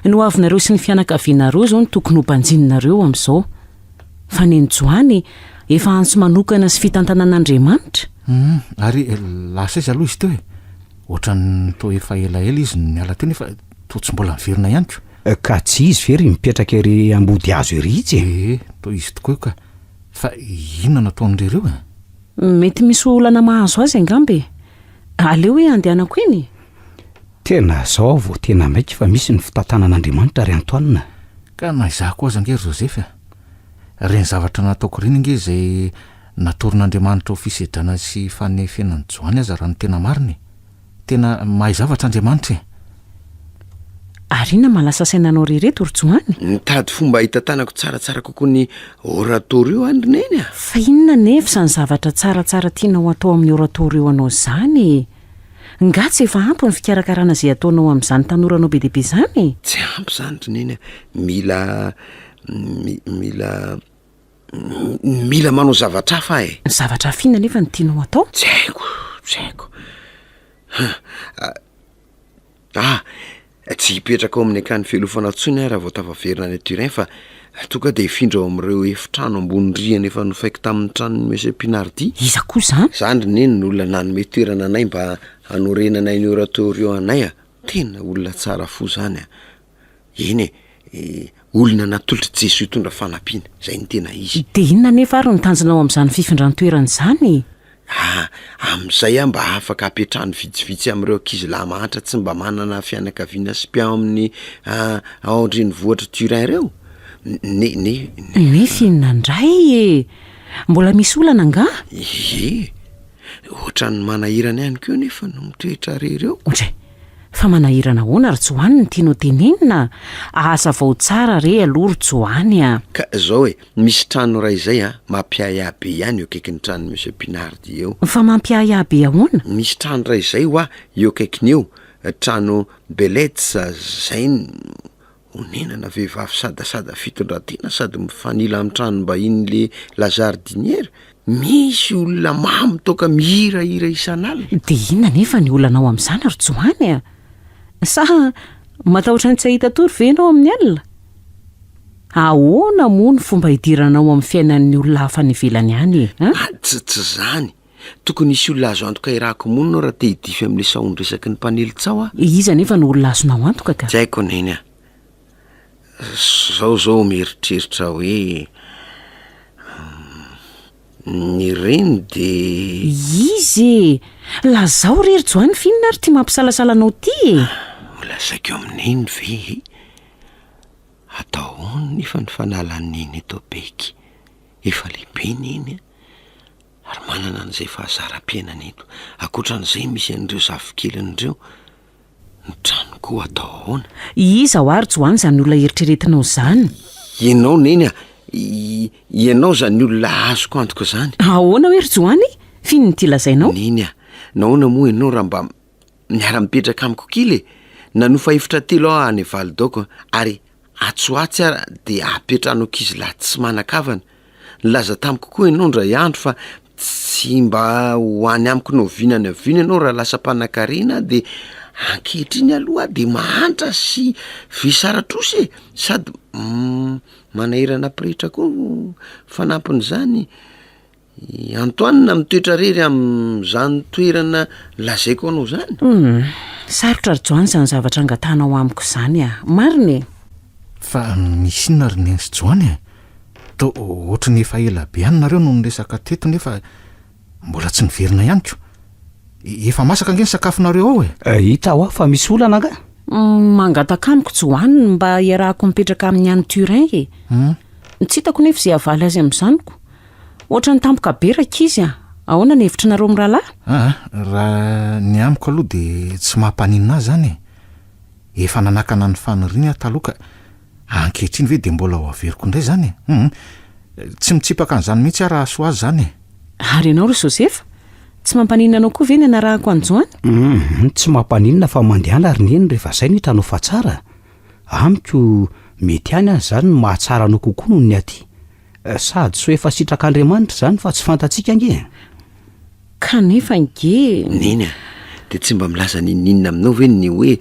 Speaker 9: Ny hoavinareo sy ny fianakavianareo izao no tokony ho banjininareo amin'izao. Fa ny an'i Joany, efa antso manokana sy fitantanan'Andriamanitra. Humm, ary
Speaker 5: lasa aiza aloha izy teo e? Ohatran'ny toa efa elaela izy no niala teo nefa toa tsy mbola niverina ihany ko. Ka tsy izy ve
Speaker 10: ry mipetraka ery ambodihazo ery itsy e? Ee, toa izy tokoa io ka.
Speaker 5: Fa inona no ataon-dry ireo e? Mety
Speaker 9: misy olana mahazo azy angamba e! Aleo hoe andehanako eny e! Tena
Speaker 10: zao aho vao tena maika fa misy ny fitantanan'Andriamanitra ry Antoine. Ka na izaho
Speaker 5: koa aza ange ry Joseph a! Ireny zavatra nataoko ireny ange izay natoron'Andriamanitra ho fisedrana sy fanefena an'i Joany aza raha ny tena marina e! Tena mahay zavatra Andriamanitra e! Ary
Speaker 9: inona mahalasa saina anao re reto ry Johany? Mitady fomba
Speaker 3: hitantanako tsaratsara kokoa ny oratorio an ry Neny a! Fa inona anefa
Speaker 9: izany zavatra tsaratsara tianao atao amin'ny oratorio anao izany e? Nga tsy efa ampy ny fikarakarana izay ataonao amin'izany tanoranao be dia be izany e? Tsy ampy izany ry
Speaker 3: Neny a! Mila, mi, mila. Mila manao zavatra hafa aho e. Zavatra hafa inona anefa no
Speaker 9: tianao hatao? Tsy haiko,
Speaker 3: tsy haiko. Ah, tsy hipetraka ao amin'ny akany fialofana intsony aho raha vao tafaverina any Turin fa toa ka dia hifindra ao amin'ireo efitrano ambony rihana efa nofaiko tamin'ny tranon'i Monsieur Pinardy. Iza koa izany? Izany
Speaker 9: ry neny no olona
Speaker 3: nanome toerana anay mba hanorenanay ny oratorio anay a! Tena olona tsara fo izany a! Eny e, olona natolotr'i Jesoa hitondra fanampiana, izay no tena izy. Dia inona anefa ary no
Speaker 9: tanjona ao amin'izany fifindran-toerana izany? Ah,
Speaker 3: amin'izay aho mba afaka hapetrahany vitsivitsy amin'ireo ankizy lahy mahantra tsy mba manana fianakaviana sy mpiahy ao amin'ny, ah, ao an-drenivohitr'i Turin ireo? Ne, ne, ne. Nefa
Speaker 9: inona indray e? Mbola misy olana angaha? Ie.
Speaker 3: Hoatran'ny manahirana ihany koa anefa no mitoetra re ireo. Ohatry. Fa
Speaker 9: manahirana ahoana ry Johany no tianao tenenina a! Hazavao tsara re aloha ry Johany a! Ka zao e,
Speaker 3: misy trano iray izay a, mampiahiahy be ihany eo akaikin'ny tranon'i Monsieur Pinard eo. Fa mampiahiahy be
Speaker 9: ahoana? Misy trano iray izay
Speaker 3: ho'a eo akaikiny eo, trano Belets zay no. Onenana vehivavy sadasada fitondran-tena sady mifanila amin'ny tranom-bahinin'le La Jardinière, misy olona mamo toaka mihirahira isan'alina. Dia inona anefa ny
Speaker 9: olanao amin'izany ry Johany a? Sa matahotra ny tsy hahita tory ve ianao amin'ny alina? Ahoana moa ny fomba hidiranao amin'ny fiainan'ny olona hafa any ivelany any e? Aa, tss, tsy
Speaker 3: izany. Tokony hisy olona azo antoka hirahako monina aho raha te hidify amin'ilay sahon-dresaky ny mpanely tsaho aho. Iza anefa no olona
Speaker 9: azonao antoka ka? Tsy haiko ny Neny a!
Speaker 3: Zao zao mieritreritra aho hoe ny reny dia. Iza e!
Speaker 9: Lazao re ry Joany f'inona ary ity mampisalasala anao ity e? Holazaiko
Speaker 3: amin'i Neny ve e? Atao ahoana nefa ny fanalan'i Neny eto Baiky? Efa lehibe Neny a! Ary manana an'izay fahazaram-piainana eto. Ankoatran'izay, misy an'ireo zafikeliny ireo. Ny trano koa atao ahoana? I iza ho ary
Speaker 9: Joany izany olona eritreretinao izany? Ianao Neny
Speaker 3: a! Ianao izany olona azoko antoka izany. Ahoana hoe ry Joany?
Speaker 9: F'inona ity lazainao? Neny a! Nahoana
Speaker 3: moa ianao raha mba miara-mipetraka amiko kila e! Nanofa efitra telo aho any Validaoko, ary Atsy ho atsy ary dia apetrany ho ankizilahy tsy manan-kavana. Nilaza tamiko koa ianao indray andro fa tsy mba ho any amiko na oviana na oviana ianao raha lasa mpanankarena aho dia ankehitriny aloha aho dia mahantra sy vesaratrosa e! sady manahirana pretra koa fanampin'izany. I Antoine mitoetra rery amin'izany toerana lazaiko anao izany? Humm. Sarotra
Speaker 9: ry Joany izany zavatra angatanao amiko izany a! Marina e! Fa
Speaker 5: misy inona ry Neny sy Joany e? Toa ohatry ny efa ela be any nareo no niresaka teto nefa mbola tsy niverina ihany ko! Efa masaka ange ny sakafonareo ao e! Hita hoa fa misy
Speaker 10: olana angaha? Humm, mangataka
Speaker 9: amiko Joany ny mba hiarahako mipetraka amin'i Any Turin e! Humm. Tsy hitako nefa izay havaly azy amin'izany ko! Ohatran'ny tampoka be rankizy a! Ahoana ny hevitry nareo mirahalahy? Aa,
Speaker 5: raha
Speaker 9: ny
Speaker 5: amiko aloha dia tsy mampaninona ahy izany
Speaker 9: e!
Speaker 5: Efa
Speaker 11: nanakana ny faniriany aho taloha ka ankehitriny ve dia mbola ho averiko indray izany e? Hum! Tsy mitsipaka an'izany mihitsy aho raha hahasoa azy izany e! Ary ianao ry
Speaker 9: Joseph? Tsy mampaninona anao koa ve ny hanarahako an'i Joany? Hum! Tsy mampaninona
Speaker 10: fa mandehana ry Neny rehefa izay no hitanao fa tsara. Amiko, mety ihany aza izany no mahatsara anao kokoa noho ny aty. Sady so efa sitrak'Andriamanitra izany fa tsy fantatsika ange e!
Speaker 9: Kanefa ange e! Neny a!
Speaker 3: Dia tsy mba milaza n'inon'inona aminao ve ny hoe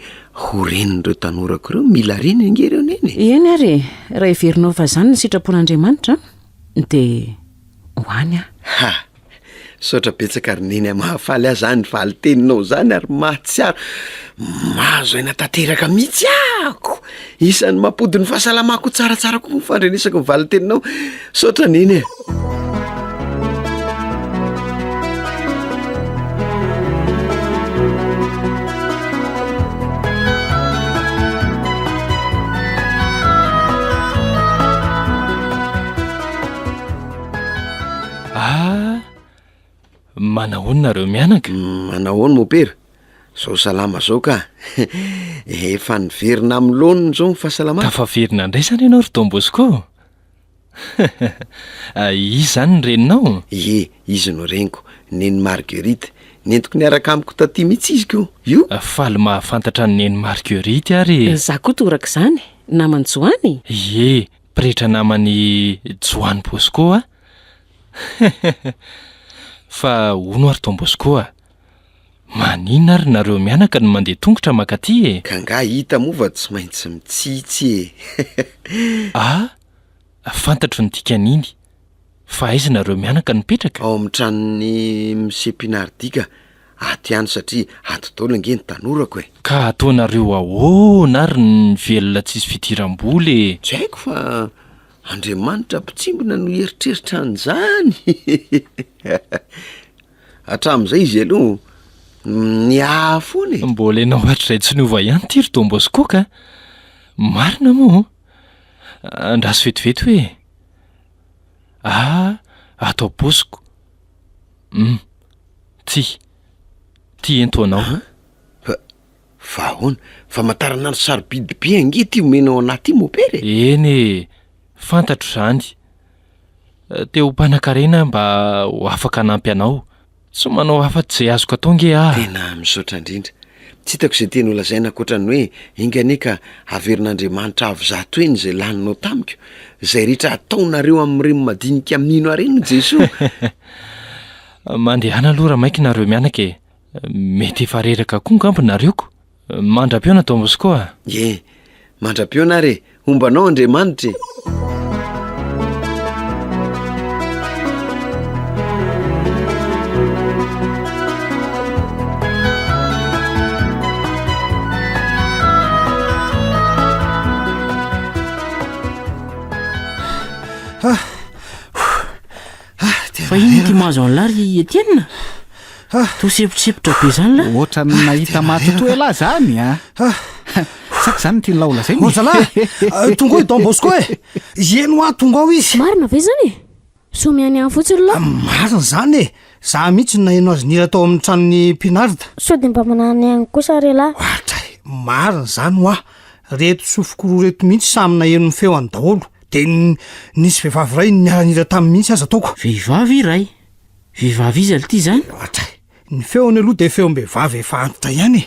Speaker 3: ho renin'ireo tanorako ireo? Mila reny ange ireo Neny e! Eny ary e!
Speaker 9: Raha heverinao fa izany ny sitrapon'Andriamanitra an! Dia ho any aho. Ha!
Speaker 3: Misaotra betsaka ry Neny a, mahafaly ahy zany valin-teninao zany ary mahatsiaro mahazo aina tanteraka mihitsy aho. Isan'ny mampody ny fahasalamako ho tsaratsara kokoa ny fandrenesako ny valin-teninao. Misaotra Neny e.
Speaker 12: Ah! Manahoana nareo mianaka? Manahoana mopera?
Speaker 3: Zao salama zao ka! Efa niverina amin'ny laoniny izao ny fahasalamana. Tafaverina indray izany
Speaker 12: ianao ry Don Bosco? Izy izany ny reninao? Ie, izy no
Speaker 3: reniko, Neny Marguerite. Nentiko niaraka amiko taty mihitsy izy ko! Io! Faly mahafantatra
Speaker 12: an'i Neny Marguerite ary e! Izaho koa toraka izany,
Speaker 9: naman'i Joany? Ie,
Speaker 12: pretra naman'i Joany Bosco aho. Fa hono ary Don Bosco a! Maninona ary nareo mianaka no mandeha tongotra mankaty e? Ka angaha hita moa
Speaker 3: fa tsy maintsy mitsitsy e! Ah!
Speaker 12: Fantatro ny dikan'iny. Fa aiza nareo mianaka no mipetraka? Ao amin'ny tranon'i
Speaker 3: Monsieur Pinardi ka! Ato ihany satria ato daholo ange ny tanorako e! Ka ataonareo
Speaker 12: ahoana ary ny velona tsisy fidiram-bola e? Tsy haiko fa
Speaker 3: Andriamanitra mpitsimbina no hieritreritra an'izany? Hatramin'izay izy aloha niaha foana e. Mbola ianao hatrizay tsy
Speaker 12: niova ihany ity ry Don Bosco ka! Marina moa? Andraso vetivety hoe, Ah, ato am-posiko. Hum. Ty. Ty ento anao.
Speaker 3: Fa ahoana? Famantaranandro sarobidy be ange ity omena ao anaty ity mopera e! Eny e!
Speaker 12: Fantatro izany. Te ho mpanankarena aho mba ho afaka hanampy anao. Tsy manao afa-tsy izay azoko atao ange aho. Tena misaotra indrindra.
Speaker 3: Tsy hitako izay teny holazaina ankoatra ny hoe enga anie ka haverin'Andriamanitra avo zato heny izay laninao tamiko. Izay rehetra ataonareo amin'ireny madinika mino ahy ireny hoy Jesoa. Mandehana
Speaker 12: aloha ramaiki nareo mianaka e! Mety efa reraka koa ngamba nareo ko. Mandra-piona Don Bosco a! Ye,
Speaker 3: mandra-piona ary e! Homba anao Andriamanitra e!
Speaker 2: Fa iny ity mahazo an'lah ry Etienne? Toa semposempotra be zany lah. Ohatran'ny ah, nahita
Speaker 5: matotoa elah zany a. Ah. Sa zany ny tian'lah holazaina? Ozala, euh, tonga
Speaker 11: ao i Don Bosco e. Ieny hoa tonga ao izy. Marina ve zany e?
Speaker 4: Somiany ihany fotsiny lah. Ah, marina zany e.
Speaker 11: Za mihitsy no naheno azy nira tao amin'ny tranon'ny Pinard. Sao dia mba manana
Speaker 4: ihany kosa re lah. Ohatra e, marina
Speaker 11: zany hoa. Reto sofokoroa reto mihitsy samy naheno ny feo any daholo. Dia nisy vehivavy iray niara-nihira taminy mihitsy aza ataoko. Vehivavy iray?
Speaker 2: Vehivavy iza lty izany? Loatra e! Ny feony
Speaker 11: aloha dia feom-behivavy efa antitra ihany e!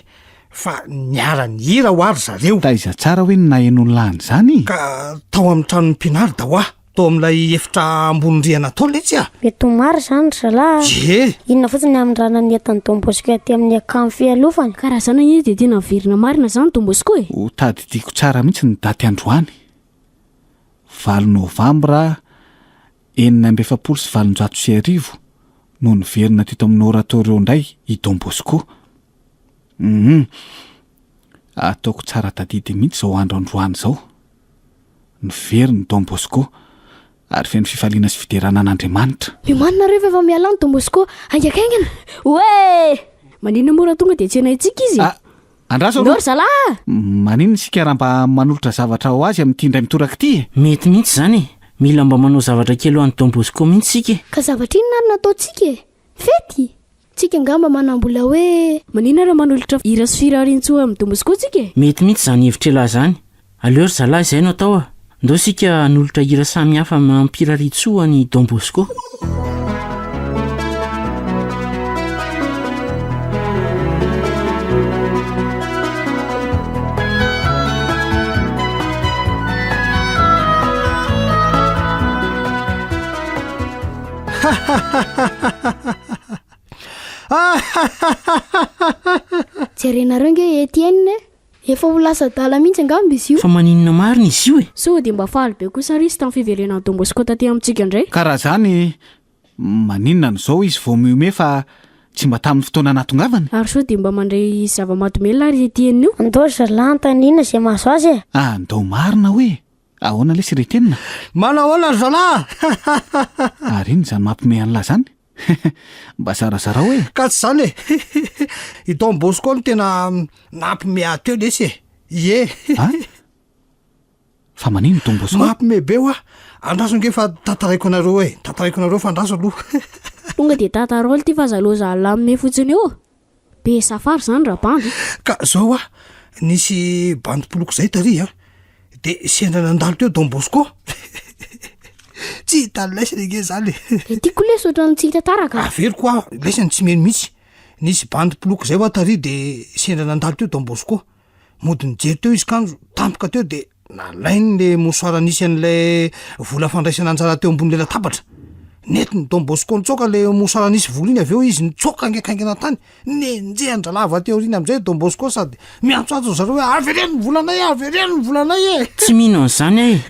Speaker 11: Fa niara-nihira hoa ry zareo. Taiza tsara hoe ny
Speaker 5: naheno ny lahany izany? Ka tao amin'ny
Speaker 11: tranon'i Pinard hoa, tao amin'ilay efitra ambony rihana tao letsy a! Mety ho marina izany ry
Speaker 4: zalahy a! Ie! Inona fotsiny
Speaker 11: ny hamindrana
Speaker 4: ny entan'i Don Bosco aty amin'ny akany fialofana? Ka raha izany anie dia
Speaker 13: tena very namarina izany Don Bosco e! Ho tadidiako tsara
Speaker 5: mihitsy ny daty androany. valo novambra enina amby efapolo sy valonjato sy arivo no niverina teto amin'ny Oratorio indray i Don Bosco. Humm. Ataoko tsara tadidy mihitsy izao andro androany izao. Niverina i Don Bosco. Ary feno fifaliana sy fiderana an'Andriamanitra. Miomanina rehefa efa
Speaker 13: mialà ny Don Bosco haingankaingana. Oee! Maninona moa raha tonga dia tsy enaintsika izy? Ah, andraso aloha. Nao ry
Speaker 5: zalahy ah!
Speaker 13: Maninona isika
Speaker 5: raha mba manolotra zavatra ho azy amin'ity indray mitoraka ity e? Mety mihitsy izany e!
Speaker 2: Mila mba manao zavatra
Speaker 4: kely ho
Speaker 2: an'i Don Bosco
Speaker 4: mihitsy
Speaker 2: isika e! Ka
Speaker 4: zavatra
Speaker 2: inona
Speaker 4: ary no
Speaker 2: ataontsika e? Fety? Tsika
Speaker 13: angamba manambola hoe. Maninona raha manolotra hira sy firariantsoa amin'ny domozy koa tsika e? Mety mihitsy izany hevitr'ialahy
Speaker 2: izany. Aleo ry zalahy izay no atao a! Ndao isika hanolotra hira samihafa mampirariantsoa an'i Don Bosco.
Speaker 13: jerenareo nge Etienne efa ho lasa adala mihitsy angamba izy io fa maninona marina izy
Speaker 2: io e sao dia mba faly be
Speaker 13: kosa ry izy tamin'ny fiverenan'i Don Bosco taty amintsika indray ka raha zany
Speaker 5: maninona no zao izy vao mihomehy fa tsy mba tamin'ny fotoana nahatongavany ary sao dia mba mandray
Speaker 13: zava-mahadomelina ary Etienne io Andao ry zalahy anontaniana
Speaker 4: izay mahazo azy e! Ah ndao marina hoe.
Speaker 5: Ahoana lesy ry Kenina? Manao ahoana ry zalahy? Ary inona izany mampiomehy an'lah izany? Mba zarazarao e! Ka tsy izany e!
Speaker 11: I Don Bosco no tena nampiomehy ahy teo lesy e! Ie! A?
Speaker 5: Fa maninona i Don Bosco? Mampiomehy be hoa!
Speaker 11: Andraso ange fa tantaraiko anareo e! Tantaraiko anareo fa andraso aloha! Tonga dia
Speaker 13: tantarao ity vazalozalahy mihomehy fotsiny io. Be safari zany rabandy e! Ka zao a,
Speaker 11: nisy bandy mpiloko zay tary a, de sendra nandalo teo Don Bosco, tsy hita ny laisany ange zany e! Dia tiako lesy ohatran'ny
Speaker 13: tsy hita taraka. Averiko a, laisany
Speaker 11: tsy mino mihitsy, nisy bandy mpiloko zay wa tary de sendra nandalo teo Don Bosco. Mody nijery teo izy kanjo tampoka teo dia nalainy le mosoara nisy an'ilay vola fandraisana anjara teo ambon'ilay latabatra. Nentin'i Don Bosco nitsoaka le mosoara nisy vola iny avy eo izy nitsoaka ngaikaingana tany. Nenjehan-drahalahy avy aty aoriana amin'izay Don Bosco sady miantsoantso ry zareo hoe avereno ny volanay e, avereno ny volanay e. Tsy mino an'izany aho e!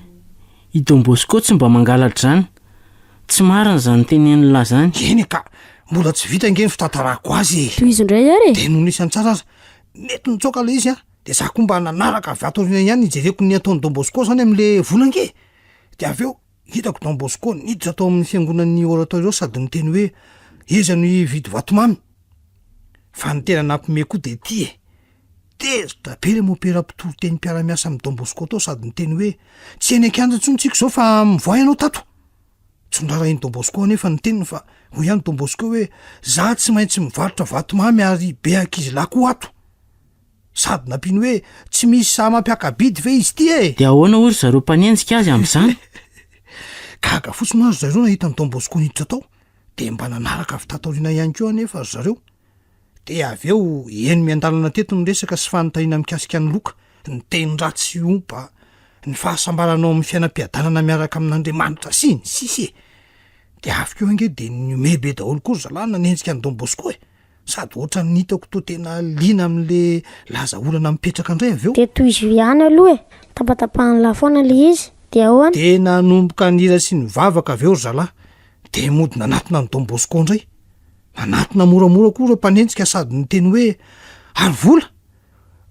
Speaker 2: I Don Bosco tsy mba mangalatra izany. Tsy marina izany tenenin'i Lahy izany. Eny ka! Mbola
Speaker 11: tsy vita ange ny fitantarako azy e! Tohizo indray ary e! Dia
Speaker 13: nony isan-tsara aza
Speaker 11: Nety nitsoaka ilay izy an, dia za koa mba nanaraka avy ato aoriana ihany nijereko ny ataon'i Don Bosco izany amin'le vola ange, dia avy eo hitako Don Bosco niditra tao amin'ny fiangonan'ny oratorio sady niteny hoe iza no hividy vatomamy? Fa ny tena nampime koa dia ity e, tezitra be ilay mopera mpitory teny mpiara-miasa amin'i Don Bosco tao sady niteny hoe tsy eny an-kianja intsony tsiko izao fa mivoaha ianao tato. Tsondrarahin'i Don Bosco anefa ny teniny fa hoy ihany Don Bosco hoe za tsy maintsy mivarotra vatomamy ary be ankizilahy koa ato. Sady nampiany hoe tsy misy sahy mampiaka-bidy ve izy ity e! Dia ahoana hoy ry zareo
Speaker 2: mpanenjika azy amin'izany?
Speaker 11: Gaga fotsiny hoy ry zareo nahita an'i Don Bosco niditra tao, dia mba nanaraka avy taty aoriana ihany koa anefa ry zareo. Dia avy eo, eny miandalana teto ny resaka sy fanontaniana mikasika an'i Loka, ny teny ratsy sy ompa, ny fahasambaranao amin'ny fiainam-piadanana miaraka amin'Andriamanitra sy ny sisa e! Dia avy keo ange dia nihomehy be daholo koa ry zalahy nanenjika an'i Don Bosco e! Sady ohatran'ny hitako toa tena liana amin'le laza olana mipetraka indray avy eo. Dia tohizo ihany aloha
Speaker 4: e! Tapatapahan'lah foana le izy, dia ahoana? Dia nanomboka
Speaker 11: nihira sy nivavaka avy eo ry zalahy, dia mody nanatona an'i Don Bosco indray. Nanatona moramora koa ireo mpanenjika sady niteny hoe, Ary vola?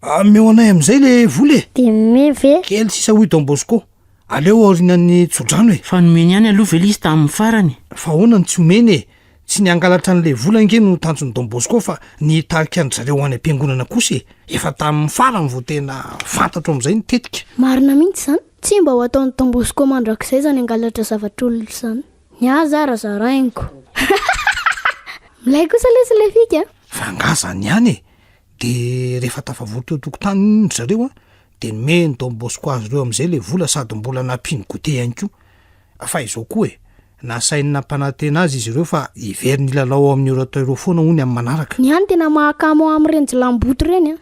Speaker 11: Ameo anay amin'izay ilay vola e! Dia nomeny ve? Kely
Speaker 4: sisa hoy Don
Speaker 11: Bosco, Aleo aorianan'ny tsodrano e! Fa nomeny ihany aloha ve
Speaker 2: ilay izy tamin'ny farany? Fa ahoana no tsy homeny
Speaker 11: e! Tsy ny hangalatra an'ilay vola ange no tanjon'i Don Bosco fa ny hitarika an-dry zareo any am-piangonana kosa e! Efa tamin'ny farany vao tena fantatro amin'izay ny tetika. Marina mihitsy izany.
Speaker 13: Tsy mba ho ataon'i Don Bosco mandrakizay izany hangalatra zavatr'olona izany. Ny ahy zara zarainiko. Milay kosa lesy le fika a! Fa angaha zany
Speaker 11: ihany e! De rehefa tafavory teo tokotany ry zareo a, de nomeny don bosco azy ireo amizay le vola sady mbola nampiany goûter ihany koa. Fa izao koa e, nasainy nampanantena azy izy ireo fa hiveriny hilalao ao amin'ny Eurotto ireo foana hono amin'ny manaraka. Ny ahy no tena mahakamo
Speaker 13: amin'ireny jilamboto ireny a!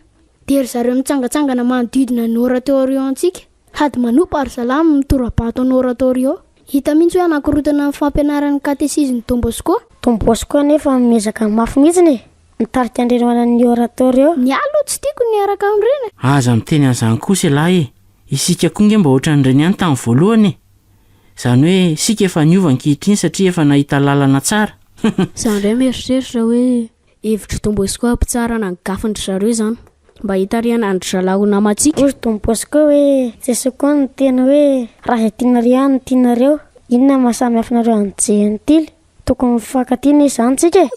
Speaker 13: De ry zareo mitsangatsangana manodidina ny Eurotto ireo antsika. Hady Manoup Arsalam mitora-bato anao Oratorio. Hita mihitsy hoe hanakorontana ny fampianaran'ny katesizin'i Don Bosco. Don Bosco anefa
Speaker 4: miezaka mafy mihitsiny e! Mitarika an-dreny hoanan'ny Oratorio. Ny ahy aloha tsy tiako
Speaker 13: ny miaraka amin'ireny e! Aza miteny an'izany
Speaker 2: kosa ialahy e! Isika koa nge mba ohatran'ireny ihany tamin'ny voalohany e! Izany hoe isika efa niova ankehitriny satria efa nahita lalana tsara. Izany indray
Speaker 13: mieritreritra hoe Hevitry Don Bosco hampitsarana ny gafin dry zareo izany mba hitarihana an dry zalahy ho namantsika. Hoy Don Bosco hoe,
Speaker 4: Jesoa koa niteny hoe, Raha izay tianareo ihany no tianareo, inona no maha samy hafa anareo an dry Jentily? Tokony mifankatia anie izany tsika e!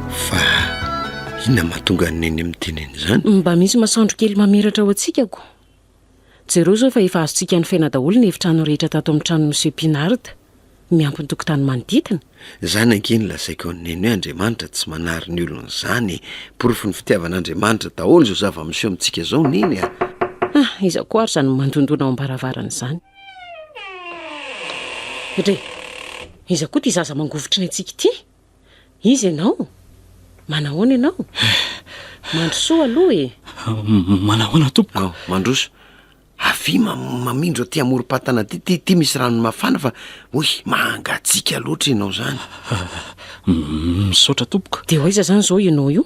Speaker 3: Fa inona mahatonga an'i Neny miteny an'izany? Mba misy masoandro kely
Speaker 9: mamiratra ao an-tsikako. Jereo izao fa efa azontsika nofaina daholo ny efitrano rehetra tato amin'ny tranon'i Monsieur Pinard, miampy ny tokotany manodidina. Izany ange no
Speaker 3: lazaiko an'i Neny hoe Andriamanitra tsy manary ny olony izany e! Porofon'ny fitiavan'Andriamanitra daholo izao zava-miseho amintsika izao, Neny a! Ah, iza koa
Speaker 9: ary izany mandondona ao am-baravarana izany? Dre! Iza koa ity zaza mangovitra ny antsika ity? Iza ianao? Manahoana ianao? Mandrosoa aloha e! Manahoana
Speaker 1: tompoko? Mandroso.
Speaker 3: Avia mamindro aty amorom-patana aty, ty, ty misy rano mafana fa hoy mangatsiaka loatra ianao izany. Misaotra
Speaker 1: tompoko. Dia ho aiza izany izao ianao
Speaker 9: io?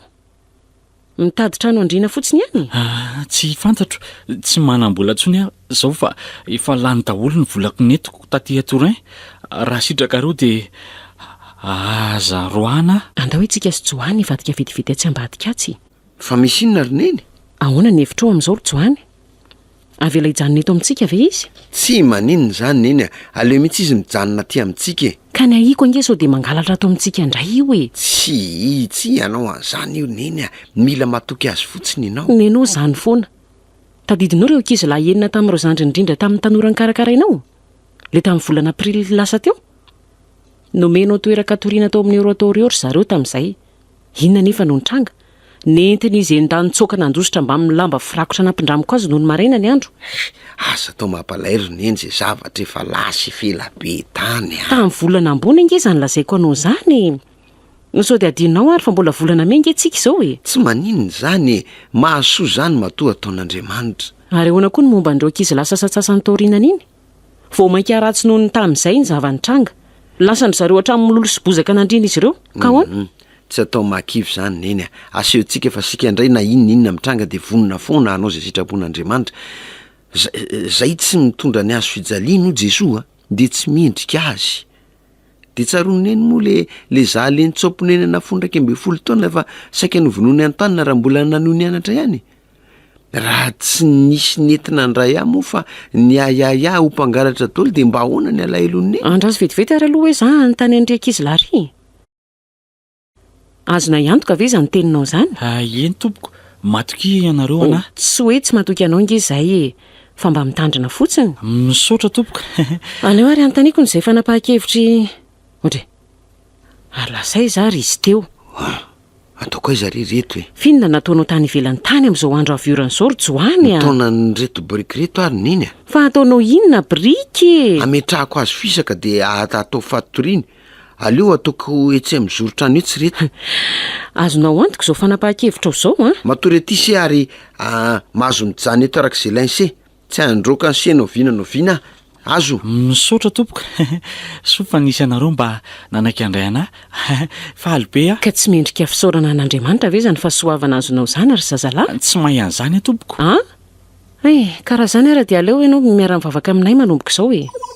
Speaker 9: Mitady trano andriana fotsiny ihany? Ah, tsy fantatro.
Speaker 1: Tsy manam-bola intsony aho izao fa efa lany daholo ny volako nentiko taty à Turin. Raha sitrakareo dia aza roahina. Andao itsika sy Johany
Speaker 9: hivadika vetivety atsy ambadika atsy. Fa misy inona
Speaker 3: ry Neny? Ahoana ny hevitrao
Speaker 9: amin'izao ry Johany? Avela hijanona eto amintsika ve izy? Tsia, maninona
Speaker 3: izany Neny a! Aleo mihitsy izy mijanona aty amintsika e! Ka ny ahiako ange sao
Speaker 9: dia mangalatra ato amintsika indray io e! Tsia, tsia,
Speaker 3: hanao an'izany io Neny a! Mila matoky azy fotsiny ianao! Neny ô, izany foana!
Speaker 9: Tadidinao ireo ankizy lahy enina tamin'ireo zandriny indrindra tamin'ny tanora nikarakarainao? Ilay tamin'ny volana aprily lasa teo? Nomenao toeran-katoriana tao amin'ny Eurotorio ry zareo tamin'izay. Inona anefa no nitranga? Nentin'izy enda nitsoaka nandositra mbamin'ny lamba firakotra nampindramiko azy nony maraina ny andro. Eh, aza atao
Speaker 3: mampalahelo ry neny izay zavatra efa lasa efa ela be tany an! Tamin'ny volana ambony
Speaker 9: ange izany lazaiko anao izany e! No sao dia adinonao ary fa mbola volana mey ange tsika izao e! Tsy maninona izany
Speaker 3: e! Mahasoa izany matoa ataon'Andriamanitra! Ary ahoana koa ny momba
Speaker 9: an'ireo ankizilahy sasantsasany taorianan'iny? Vao mainka ratsy noho ny tany izay ny zava-nitranga. Lasan-dry zareo hatramin'ny mololo sy bozaka nandrian'izy ireo. Ka ahoana? Tsy atao mahakivy
Speaker 3: izany, Neny a! Asehontsika fa isika indray na inona inona mitranga dia vonona foana hanao izay sitrapon'Andriamanitra. Izay tsy mitondra ny hazo fijaliany hoy Jesoa dia tsy mendrika Azy. Dia tsaroan'i Neny moa le le zahalehin'i Tsaoponenana fony iraika ambin'ny folo taona fa saika novonoiny an-tanana raha mbola nanohy nianatra ihany e! Raha tsy nisy nentina andray ahy moa fa ny ahiahiahy ho mpangalatra dolo dia mba ahoana ny alahelon'i Neny? Andraso vetivety ary aloha
Speaker 9: hoe za hanontany an'ry ankizilahy ry e! Azonay antoka ve izany teninao izany? Ah, eny tompoko,
Speaker 1: matokia ianareo Oh, anah. tsy hoe tsy matoky anao
Speaker 9: ange izahay e, fa mba mitandrina fotsiny. Misaotra tompoko.
Speaker 1: Aleo ary
Speaker 9: anontaniako ny izay fanapahan-kevitr'i Ondry e! Ary lasa aiza ary izy teo? Ataoko
Speaker 3: aiza re ireto e? F'inona nataonao tany
Speaker 9: ivelany tany amin'izao andro avy orana izao ry Johany a? Nitaona an'ireto biriky
Speaker 3: ireto ary neny a! Fa ataonao inona
Speaker 9: biriky e? Ametrahako azy fisaka
Speaker 3: dia atao fatoriany. Aleo ataoko etsy amin'ny zoron-trano etsy ireto. Azonao
Speaker 9: antoka izao fanapahan-kevitrao izao an? Matoria aty se ary
Speaker 3: mahazo mijanona eto arak'izay lainse. Tsy handroaka anse na oviana na oviana azo. Misaotra tompoko
Speaker 1: soa fa nisy anareo mba nanaiky handray anah faly be ah. Ka tsy mendrika fisaorana
Speaker 9: an'Andriamanitra ve zany fahasoavana azonao zany ry zazalahy? Tsy mahay an'izany ah
Speaker 1: tompoko. An? Eh,
Speaker 9: ka raha zany ara dia aleo enao miara-mivavaka aminay manomboka izao e.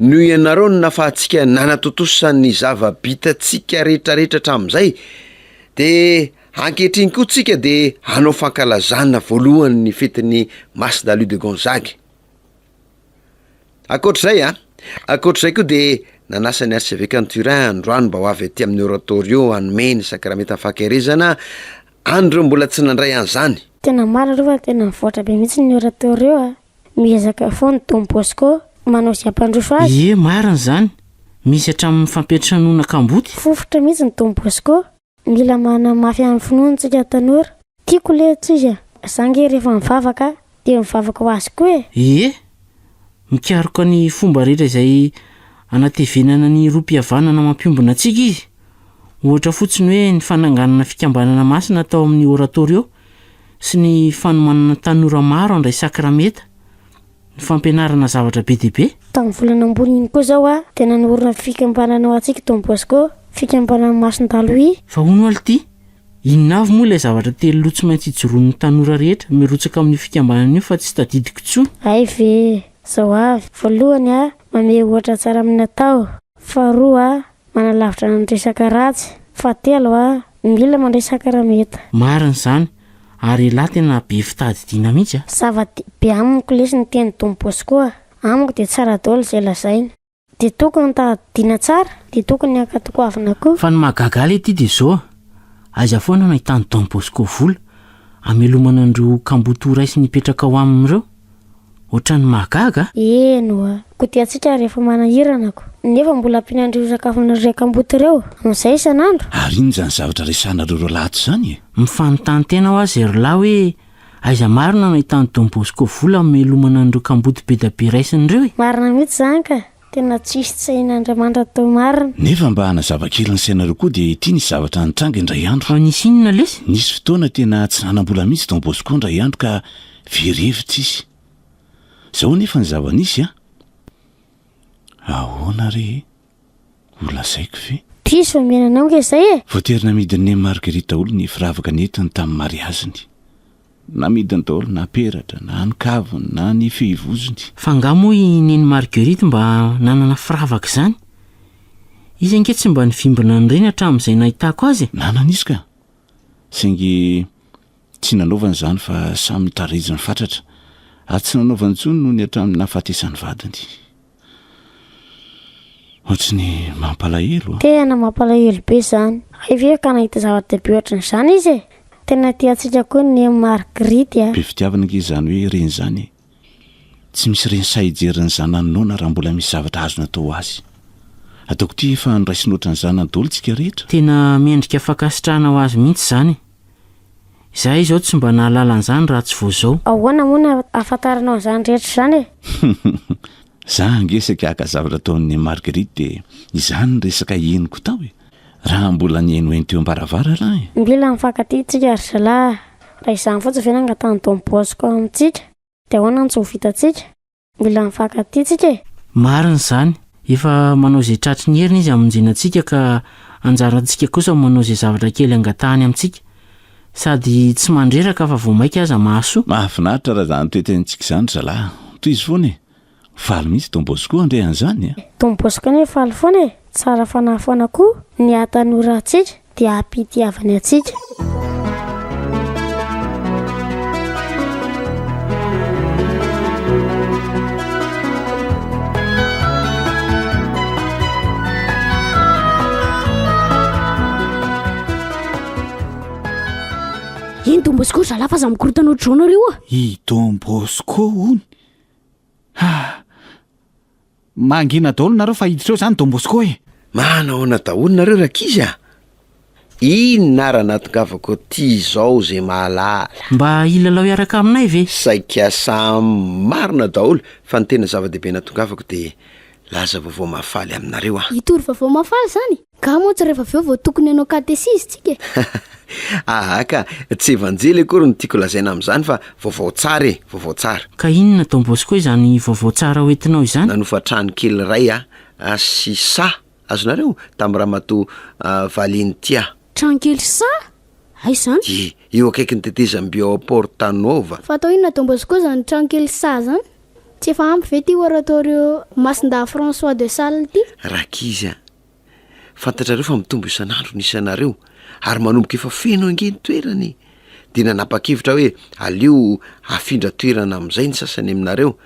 Speaker 3: Noho ianareo no nafahantsika nanatontosa ny zava-bitantsika rehetrarehetra hatramin'izay, dia ankehitriny koa tsika dia hanao fankalazana voalohany ny fetin'ny Mas Dalí de Gonzague. Ankoatr'izay a, ankoatr'izay koa dia nanasa ny arsevekan'i Turin androany mba ho avy aty amin'ny oratorio hanome ny sakramentan'ny fankaherezana an'ireo mbola tsy nandray an'izany. Tena marina aloha fa
Speaker 4: tena nivoatra be mihitsy ny oratorio a. Miezaka foana Don Bosco manao izay hampandroso azy. Ie marina izany,
Speaker 2: misy hatramin'ny fampiantranoana kamboty. Fofotra mihitsy ny Don
Speaker 4: Bosco. Mila manamafy an'ny finoany tsika tanora. Tiako le tsisy a! Za nge rehefa mivavaka de mivavaka ho azy koa e! Ie,
Speaker 2: mikaroka ny fomba rehetra izay anatevenana ny rohim-pihavanana mampiombona antsika izy. Ohatra fotsiny hoe ny fananganana fikambanana masina tao amin'ny Oratorio, sy ny fanomanana tanora maro handray sakramenta, ny fampianarana zavatra be dia be. Tamin'ny volana ambony
Speaker 4: iny koa izao dia nanorina ny fikambanana ao Antsiky Don Bosco, fikambanan'i Masindalo I. Fa hono alo ity,
Speaker 2: inona avy moa ilay zavatra telo loha tsy maintsy ijoroan'ny tanora rehetra mirotsaka amin'io fikambanana io fa tsy tadidiko intsony? Hay ve!
Speaker 4: Izao avy, voalohany, mamehy ohatra tsara amin'ny natao. Faharoa, Manalavitra ny resaka ratsy. Fahatelo a, mila mandray sakramenta. Marina izany,
Speaker 2: ary ialahy tena be fitadidiana mihitsy a! Zava-dehibe amiko
Speaker 4: lesy ny teny Don Bosco a! Amiko dia tsara daholo izay lazainy. Dia tokony tadidiana tsara, dia tokony ankatokoavina koa. Fa ny mahagaga ahy lety
Speaker 2: dia izao a! Aiza foana no ahitan'i Don Bosco vola hamelomana an'ireo kamboty ho ray sy ny hipetraka ao aminy ireo? Otrany mahagaga a! Eny oa,
Speaker 4: kodiantsika rehefa manahirana ko. Nefa mbola ampian'ireo sakafon'ireo kamboty ireo amin'izay isan'andro? Ary inona izany zavatra
Speaker 14: resahanareo roa lahy ato izany e? Mifanontany tena hoa
Speaker 2: zay ry lahy hoe aiza marina no ahitan'i Don Bosco vola hamelomana an'ireo kamboty be dia be raisiny ireo e? Marina mihitsy izany ka!
Speaker 4: Tena tsisy tsy hain Andriamanitra teo marina. Nefa mba hanazava
Speaker 14: kely ny sainareo koa dia ity nisy zavatra nitranga indray andro. Fa nisy inona lesy?
Speaker 2: Nisy fotoana tena
Speaker 14: tsy nanam-bola mihitsy Don Bosco indray andro ka very hevitra izy. Zao anefa ny zava-nisy a! Ahoana re e? Ho lazaiko ve? Diso omena anao nga
Speaker 4: izay e! Voatery namidy ny Nem
Speaker 14: Marguerite daholo ny firavaka nentiny tamin'ny mariaziny. Namidiny daholo na peratra, na ny kaviny, na ny fehivozony. Fa angaha moa i
Speaker 2: Neny Marguerite mba nanana firavaka izany? Izy ange tsy mba nivimbina an'ireny hatramin'izay nahitako azy e! Nanana izy ka!
Speaker 14: Saingy tsy nanaovany izany fa samy nitariziny fatratra, ary tsy nanaovany intsony nony hatramin'ny nahafatesan'ny vadiny. Ohatran'ny mampalahelo a! Tena mampalahelo
Speaker 4: be izany. Hay ve ka nahita zava-dehibe ohatran'izany izy e! Tena tia antsika koa ny Margrit a! Be fitiavana ange izany hoe
Speaker 14: reny izany e! Tsy misy reny sahy hijery ny zanany noana raha mbola misy zavatra azony atao ho azy. Ataoko ity fa andraisina ohatran'ny zanany daholo tsika rehetra. Tena mendrika
Speaker 2: fankasitrahana ho azy mihitsy izany e! Izahay izao tsy mba nahalala an'izany raha tsy vao izao. Ahoana moa no ahafantaranao
Speaker 4: an'izany rehetra izany e? Za
Speaker 14: ange saika haka zavatra ataon'i Marguerite dia izany ny resaka henoko tao e! Raha mbola nihenoheno teo am-baravarana e! Mila mifankatia isika
Speaker 4: ry zalahy a! Raha izany fotsiny ve no angatahan'i Don Bosco amintsika dia ahoana no tsy ho vitantsika? Mbola mifankatia tsika e! Marina izany,
Speaker 2: efa manao izay tratry ny heriny izy hamonjena antsika ka anjarantsika kosa manao izay zavatra kely angatahany amintsika. Sady tsy mandreraka fa vao maika aza mahasoa. Mahafinaritra raha izany
Speaker 14: toetentsika izany ry zalahy. Tohizo foana e! Faly mihitsy Don Bosco handre an'izany e! Don Bosco anie faly
Speaker 4: foana e! Tsara fanahy foana koa ny haha tanora antsika. Dia hampitiavany antsika.
Speaker 13: Eny Don Bosco, zalahy fa za mikorotana ohatr'izao nareo a! I Don
Speaker 5: Bosco hono? Ha! Mangina daholo nareo fa hiditra eo zany Don Bosco e! Manahoana daholo
Speaker 3: nareo rankizy a! Inona ara natongavako aty izao zay mahalala? Mba hilalao
Speaker 2: hiaraka aminay ve? Saika samy
Speaker 3: marina daholo fa ny tena zava-dehibe natongavako dia laza vaovao mahafaly aminareo aho. Hitory vaovao mahafaly
Speaker 13: zany? Ka moa tsy rehefa avy eo vao tokony hanao katesizy tsika e!
Speaker 3: Aa ka, tsy evanjely akory no tiako lazaina amin'izany fa vaovao tsara e, vaovao tsara. Ka inona Don Bosco
Speaker 2: izany vaovao tsara ho entinao izany? Nanofa trano kely
Speaker 3: iray aho sy saha, azonareo? tamin'i Ramatoa Valentia. Trano kely saha?
Speaker 13: Aiza izany? Ie, eo akaikin'ny tetezam-by
Speaker 3: ao Porta Nuova. Fa atao inona Don Bosco
Speaker 13: izany trano kely saha izany? Tsy efa ampy ve ity Oratorio Masindahy François de Sales ity? Rankizy a!
Speaker 3: Fantatrareo fa mitombo isan'andro ny isanareo ary manomboka efa feno ange ny toerana e! Dia nanapa-kevitra aho hoe aleo afindra toerana amin'izay ny sasany aminareo.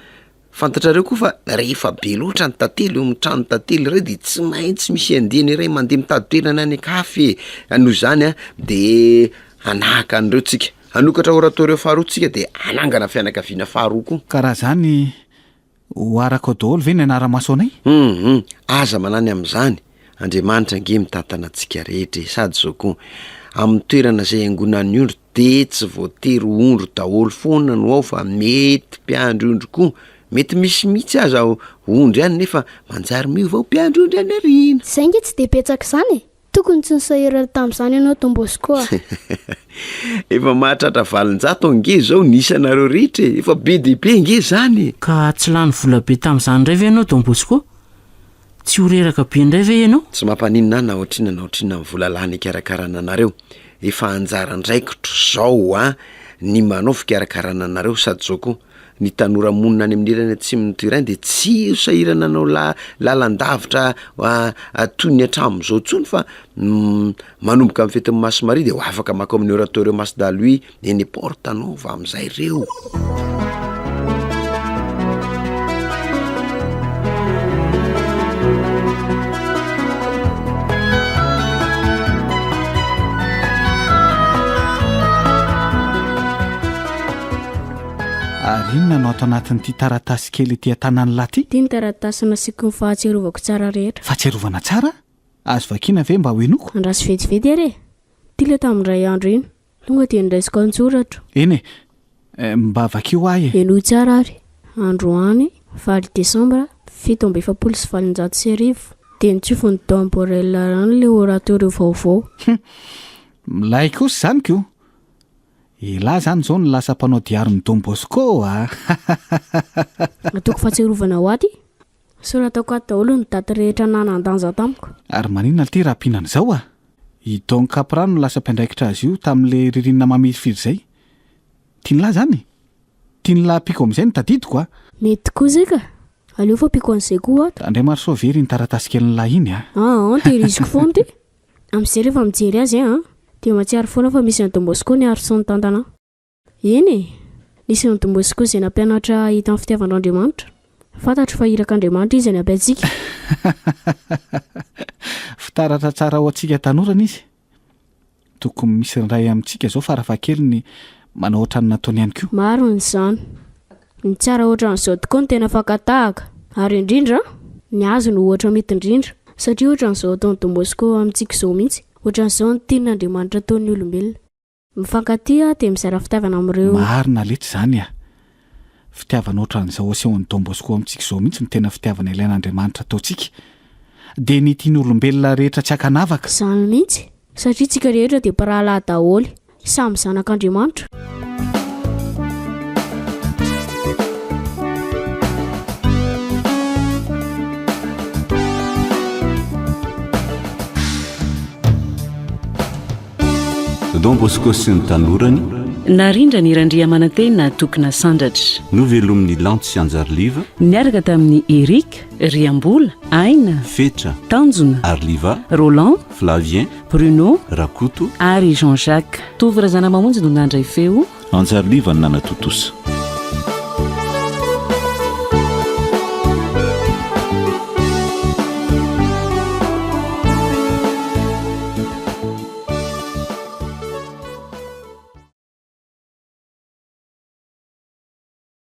Speaker 3: Fantatrareo koa fa rehefa be loatra ny tantely eo amin'ny tranon'ny tantely iray dia tsy maintsy misy andiany iray mandeha mitady toerana any an-kafa e! Noho izany an, de hanahaka an'ireo tsika. Hanokatra oratorios faharoa tsika de hanangana fianakaviana faharoa koa. Ka raha zany.
Speaker 5: Ho arako daholo ve ny anara-maso anay? Humm aza
Speaker 3: manany amin'izany, Andriamanitra ange mitantana antsika rehetra e! Sady zao koa, amin'ny toerana izay iangonan'ny ondry dia tsy voatery ho ondry daholo foana no ao fa mety mpiandry ondry koa, mety misy mihitsy aza ondry any nefa manjary miova ho mpiandry ondry any aoriana. Izay nge tsy dia betsaka
Speaker 13: izany e! Tokony tsy nisaherana tamin'izany ianao Don Bosco a!
Speaker 3: Efa mahatratra valonjato ange izao ny isanareo rehetra e! Efa be dia be ange izany e! Ka tsy lany vola
Speaker 2: be tamin'izany indray ve ianao Don Bosco? Tsy ho reraka be indray ve ianao? Tsy mampaninona ahy na
Speaker 3: ohatr'inona na ohatr'inona ny vola lany hikarakarana anareo. Efa anjara andraikitro izao an, ny manao fikarakarana anareo Sadjo koa. Ny tanora monina any amin'ny ilany atsimon'ny Turin dia tsy sahirana hanao lalan-davitra toy ny hatramin'izao intsony fa manomboka amin'ny fetin'ny Masy Maria dia ho afaka makao amin'ny Oratorio Mas da Lui eny Porta Nova amin'izay ireo.
Speaker 5: Ary inona no ato anatin'ity taratasy kely ety an-tanan'lah ity? Ity ny taratasy nasiako
Speaker 13: ny fahatsiarovako tsara rehetra. Fahatsiarovana tsara?
Speaker 5: Azo vakiana ve mba ho henoiko? Andraso vetivety ary e!
Speaker 13: Ity ilay tamin'indray andro iny. Tonga dia niraisiko an-tsoratro. Eny
Speaker 5: e! Mba vakio ho ahy e! Henoy tsara ary.
Speaker 13: Androany, valo desambra, fito amby efapolo sy valonjato sy arivo, dia nitsofin'i Don Borrell rano ilay oratorio vaovao. Hum!
Speaker 5: Milay kosa izany ko! Elah zany zao no lasa mpanao diary ny Don Bosco a!
Speaker 13: Nataoko fahatsiarovana ho aty sao nataoko aty daholo ny daty rehetra nanan-danja tamiko. Ary maninona ity
Speaker 5: rahampinana izao a! I Don Capra no lasa mpiandraikitra azy io tamin'ilay ririnina mamirifiry izay. Tian'lah zany? Tian'lah ampiako amin'izay no tadidiko a! Mety koa izay ka!
Speaker 13: Aleo fa ampiako an'izay koa ato. Andriamarisoa very iny taratasy
Speaker 5: kelin'lah iny a! Aah, tehiriziko
Speaker 13: foana ity! Amzay rehefa mijery azy an! Dia mahatsiaro foana fa misy an'i Don Bosco niaro sy nitantana an! Eny e! Nisy an'i Don Bosco izay nampianatra hahita ny fitiavan'Andriamanitra. Fantatro fa irak'Andriamanitra Izy hanampy antsika.
Speaker 5: Fitaratra tsara ho antsika tanora ny Izy. Tokony misy ny iray amintsika izao farafahakeliny manao ohatran'ny nataony ihany koa. Marina izany.
Speaker 13: Ny tsara ohatran'izao tokoa no tena fakan-tahaka. Ary indrindra, ny hazo no ohatra mety indrindra. Satria ohatran'izao ataon'i Don Bosco amintsika izao mihitsy. Ohatran'izao ny tian'Andriamanitra ataon'ny olombelona. Mifankatia dia mizara fitiavana amin'ireo. Marina letsy izany a!
Speaker 5: Fitiavana ohatran'izao asehon'i Don Bosco amintsika izao mihitsy no tena fitiavana ilain'Andriamanitra ataontsika. Dia ny tian'olombelona rehetra tsy ankanavaka. Izany mihitsy.
Speaker 13: Satria isika rehetra dia mpirahalahy daholo. Samy zanak'Andriamanitra.
Speaker 14: Don Bosco sy ny tanorany. Narindra ny
Speaker 9: Randriamanantena Tokona Sandratra. Novelomin'ny Lanto
Speaker 14: sy Anjariliva. Niaraka tamin'ny
Speaker 9: Eric, Riambola, Aina, Fetra, Tanjona,
Speaker 14: Arliva,
Speaker 9: Roland,
Speaker 14: Flavien, Bruno
Speaker 9: Rakoto ary Jean
Speaker 14: Jacques
Speaker 9: Tovo Razanamamonjy no nandray feo Anjary Liva no
Speaker 14: nanatontosa